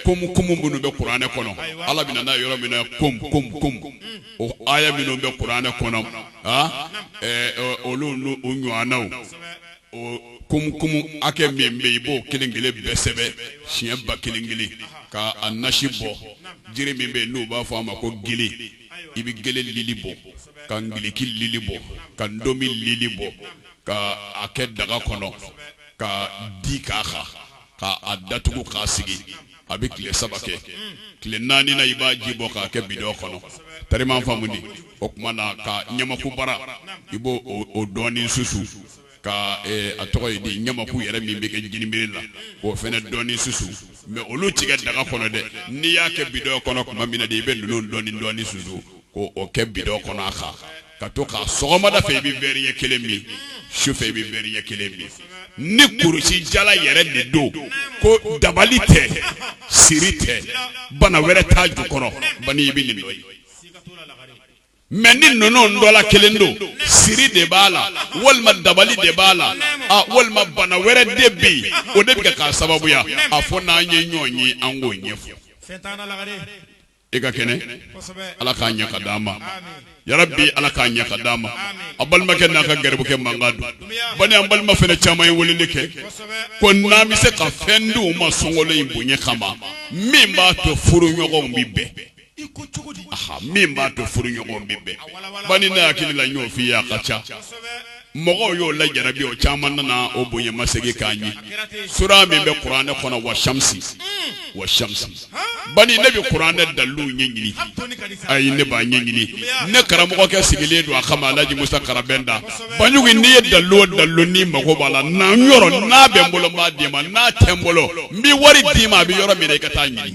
komu komu minnu bɛ kuranɛ kɔnɔ ala bɛ na n'a yɔrɔ min na kom kom kom o aya minnu bɛ kuranɛ kɔnɔ olu n'u ɲɔgɔnnaw komu komu hakɛ min bɛ i b'o kelen kelen bɛɛ sɛbɛn siɲɛ ba kelen kelen ka a nasi bɔ jiri min bɛ yen n'u b'a fɔ a ma ko gele i bɛ gele lili bɔ ka ngiliki lili bɔ ka ndomi lili bɔ ka a kɛ daga kɔnɔ ka di k'a kan ka a datugu k'a sigi a bɛ tile saba kɛ tile naaninan i b'a ji bɔ k'a kɛ bidɔn kɔnɔ tariman faamu di o tuma na ka ɲamakubara i b'o o dɔɔnin susu ka a tɔgɔ ye di ɲamaku yɛrɛ min bɛ kɛ jinibɛrɛ la o fana dɔɔnin susu mɛ olu ti kɛ daga kɔnɔ dɛ n'i y'a kɛ bidɔn kɔnɔ tuma min na de i bɛ ninnu dɔɔnin dɔɔnin susu ko o kɛ bidɔn kɔnɔ a kan ka to k'a sɔgɔmada fɛ i bɛ wɛri ɲɛ kelen min su fɛ i bɛ wɛri ɲɛ kelen min ni kurusi jala yɛrɛ de don ko dabali tɛ siri tɛ bana wɛrɛ t'a ju kɔrɔ ban i bɛ nin dɔ ye mɛ ni ninnu dɔ la kelen don siri de b'a la walima dabali de b'a la walima bana wɛrɛ de bɛ yen o de bɛ k'a sababuya a fo n'an ye ɲɔgɔn ye an k'o ɲɛfɔ e ka kɛnɛ ala k'a ɲɛ ka d'a ma yarabi ala k'a ɲɛ ka d'a ma a balimakɛ n'a ka garibukɛ mankan don bani an balima fana caman ye weleli kɛ ko n'an bɛ se ka fɛn d'u ma sunkalo in bonya kama min b'a to furu ɲɔgɔn bɛ bɛn min b'a to furu ɲɔgɔn bɛ bɛn bani ne hakili la ɲɔgɔnfin ye a ka ca mɔgɔw y'o lajarabi o caman nana o bonya masegin k'a ɲɛ sura min bɛ kuranɛ kɔnɔ wa shamsi wa shamsi bani ne bɛ kuranɛ daliluw ɲɛ ɲini ayi ne b'a ɲɛ ɲini ne karamɔgɔkɛ sigilen don a kama alhaji musa karabɛnta baɲugu n'i ye dalilu o dalilu n'i mago b'a la na n yɔrɔ n'a bɛ n bolo n b'a d'i ma n'a tɛ n bolo n bɛ wari d'i ma a bɛ yɔrɔ min na i ka t'a ɲini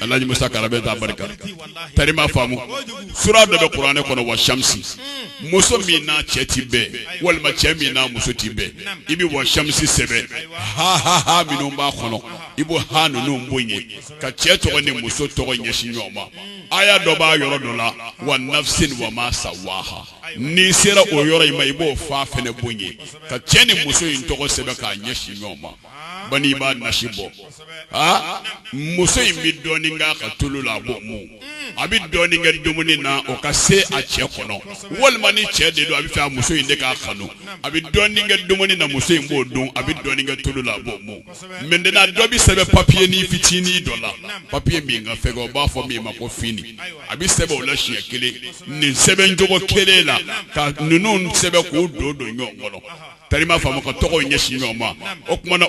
alhaji musa karabɛnta barika tari m'a faamu sura dɔ bɛ kuranɛ kɔnɔ wa shamsi muso min n'a cɛ ti bɛn walima cɛ min n'a muso ti bɛn i bɛ wa shamsi sɛbɛn ha ha ha minnu b'a kɔnɔ i b'o ha ninnu bonya ka cɛ tɔgɔ ni muso tɔgɔ ɲɛsin ɲɔgɔn ma aya dɔ b'a yɔrɔ dɔ la wa nafsin wa ma sawaha n'i sera o yɔrɔ in ma i b'o fa fɛnɛ bonya ka cɛ ni muso in tɔgɔ sɛbɛn k'a ɲɛsin ɲɔgɔn ma ban i b'a nasi bɔ aa muso in bɛ dɔɔnin k'a ka tulu la a b'o mun a bɛ dɔɔnin kɛ dumuni na o ka se a cɛ kɔnɔ walima ni cɛ de don a b'a fɛ a muso in de k'a kanu a bɛ dɔɔnin kɛ dumuni na muso in b'o dun a bɛ dɔɔnin kɛ tulu la a b'o mun mɛtenɛna dɔ bɛ sɛbɛn papiye ni fitinin dɔ la papiye min ka fɛgɛn u b'a fɔ min ma ko fini a bɛ sɛbɛn o la siɲɛ kelen nin sɛbɛn cogo kelen la ka ninnu sɛbɛn k'o don don ɲɔgɔn kɔnɔ tari m'a faamu ka tɔgɔw ɲɛsin ɲɔgɔn ma o tuma na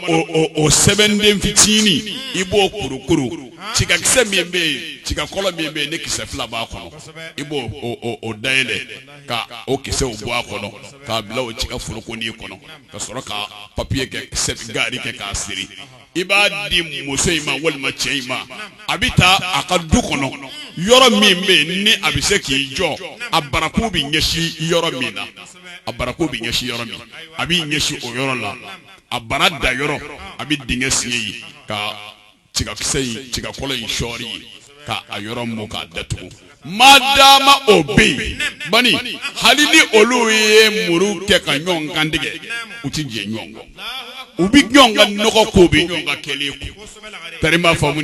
o sɛbɛnden fitinin i b'o kurukuru tigakisɛ min bɛ yen tigakolo min bɛ yen ni kisɛ fila b'a kɔnɔ i b'o o dayɛlɛ ka o kisɛw bɔ a kɔnɔ k'a bila o tiga forokonin kɔnɔ ka sɔrɔ ka papiye kɛ gaari kɛ k'a siri i b'a di muso in ma walima cɛ in ma a bɛ taa a ka du kɔnɔ yɔrɔ min bɛ yen ni a bɛ se k'i jɔ a barakun bɛ ɲɛsin yɔrɔ min na a barakun bɛ ɲɛsin yɔrɔ min a b'i ɲɛsin o yɔrɔ la a bara da yɔrɔ a bɛ dingɛ sen yen ka tigakisɛ tigakolo in sɔɔri yen ka a yɔrɔ mɔ k'a datugu maa dama o bɛ yen ban hali ni olu ye muru kɛ ka ɲɔgɔn kantigɛ u tɛ diɲɛ ɲɔgɔn kɔ u bɛ ɲɔgɔn kanu ko bɛ ɲɔgɔn ka kɛ tari m'a faamu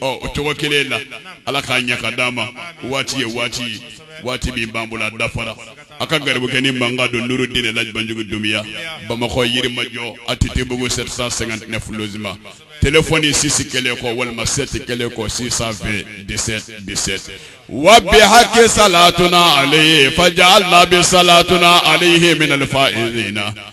o cogo kelen la ala k'a ɲɛ k'a d'an ma waati ye waati ye waati min b'an bolo a dafara aw ka garibukɛnin mankan don nuru dine laji banjugu dunbiya bamakɔ yirimajɔ atetebugu 759 lozeman telefɔni sisi kelen kɔ walima sɛti kelen kɔ 620 17 17 wa bi haki salatuna alayhi fajaalna bi salatuna alayhi minal faizina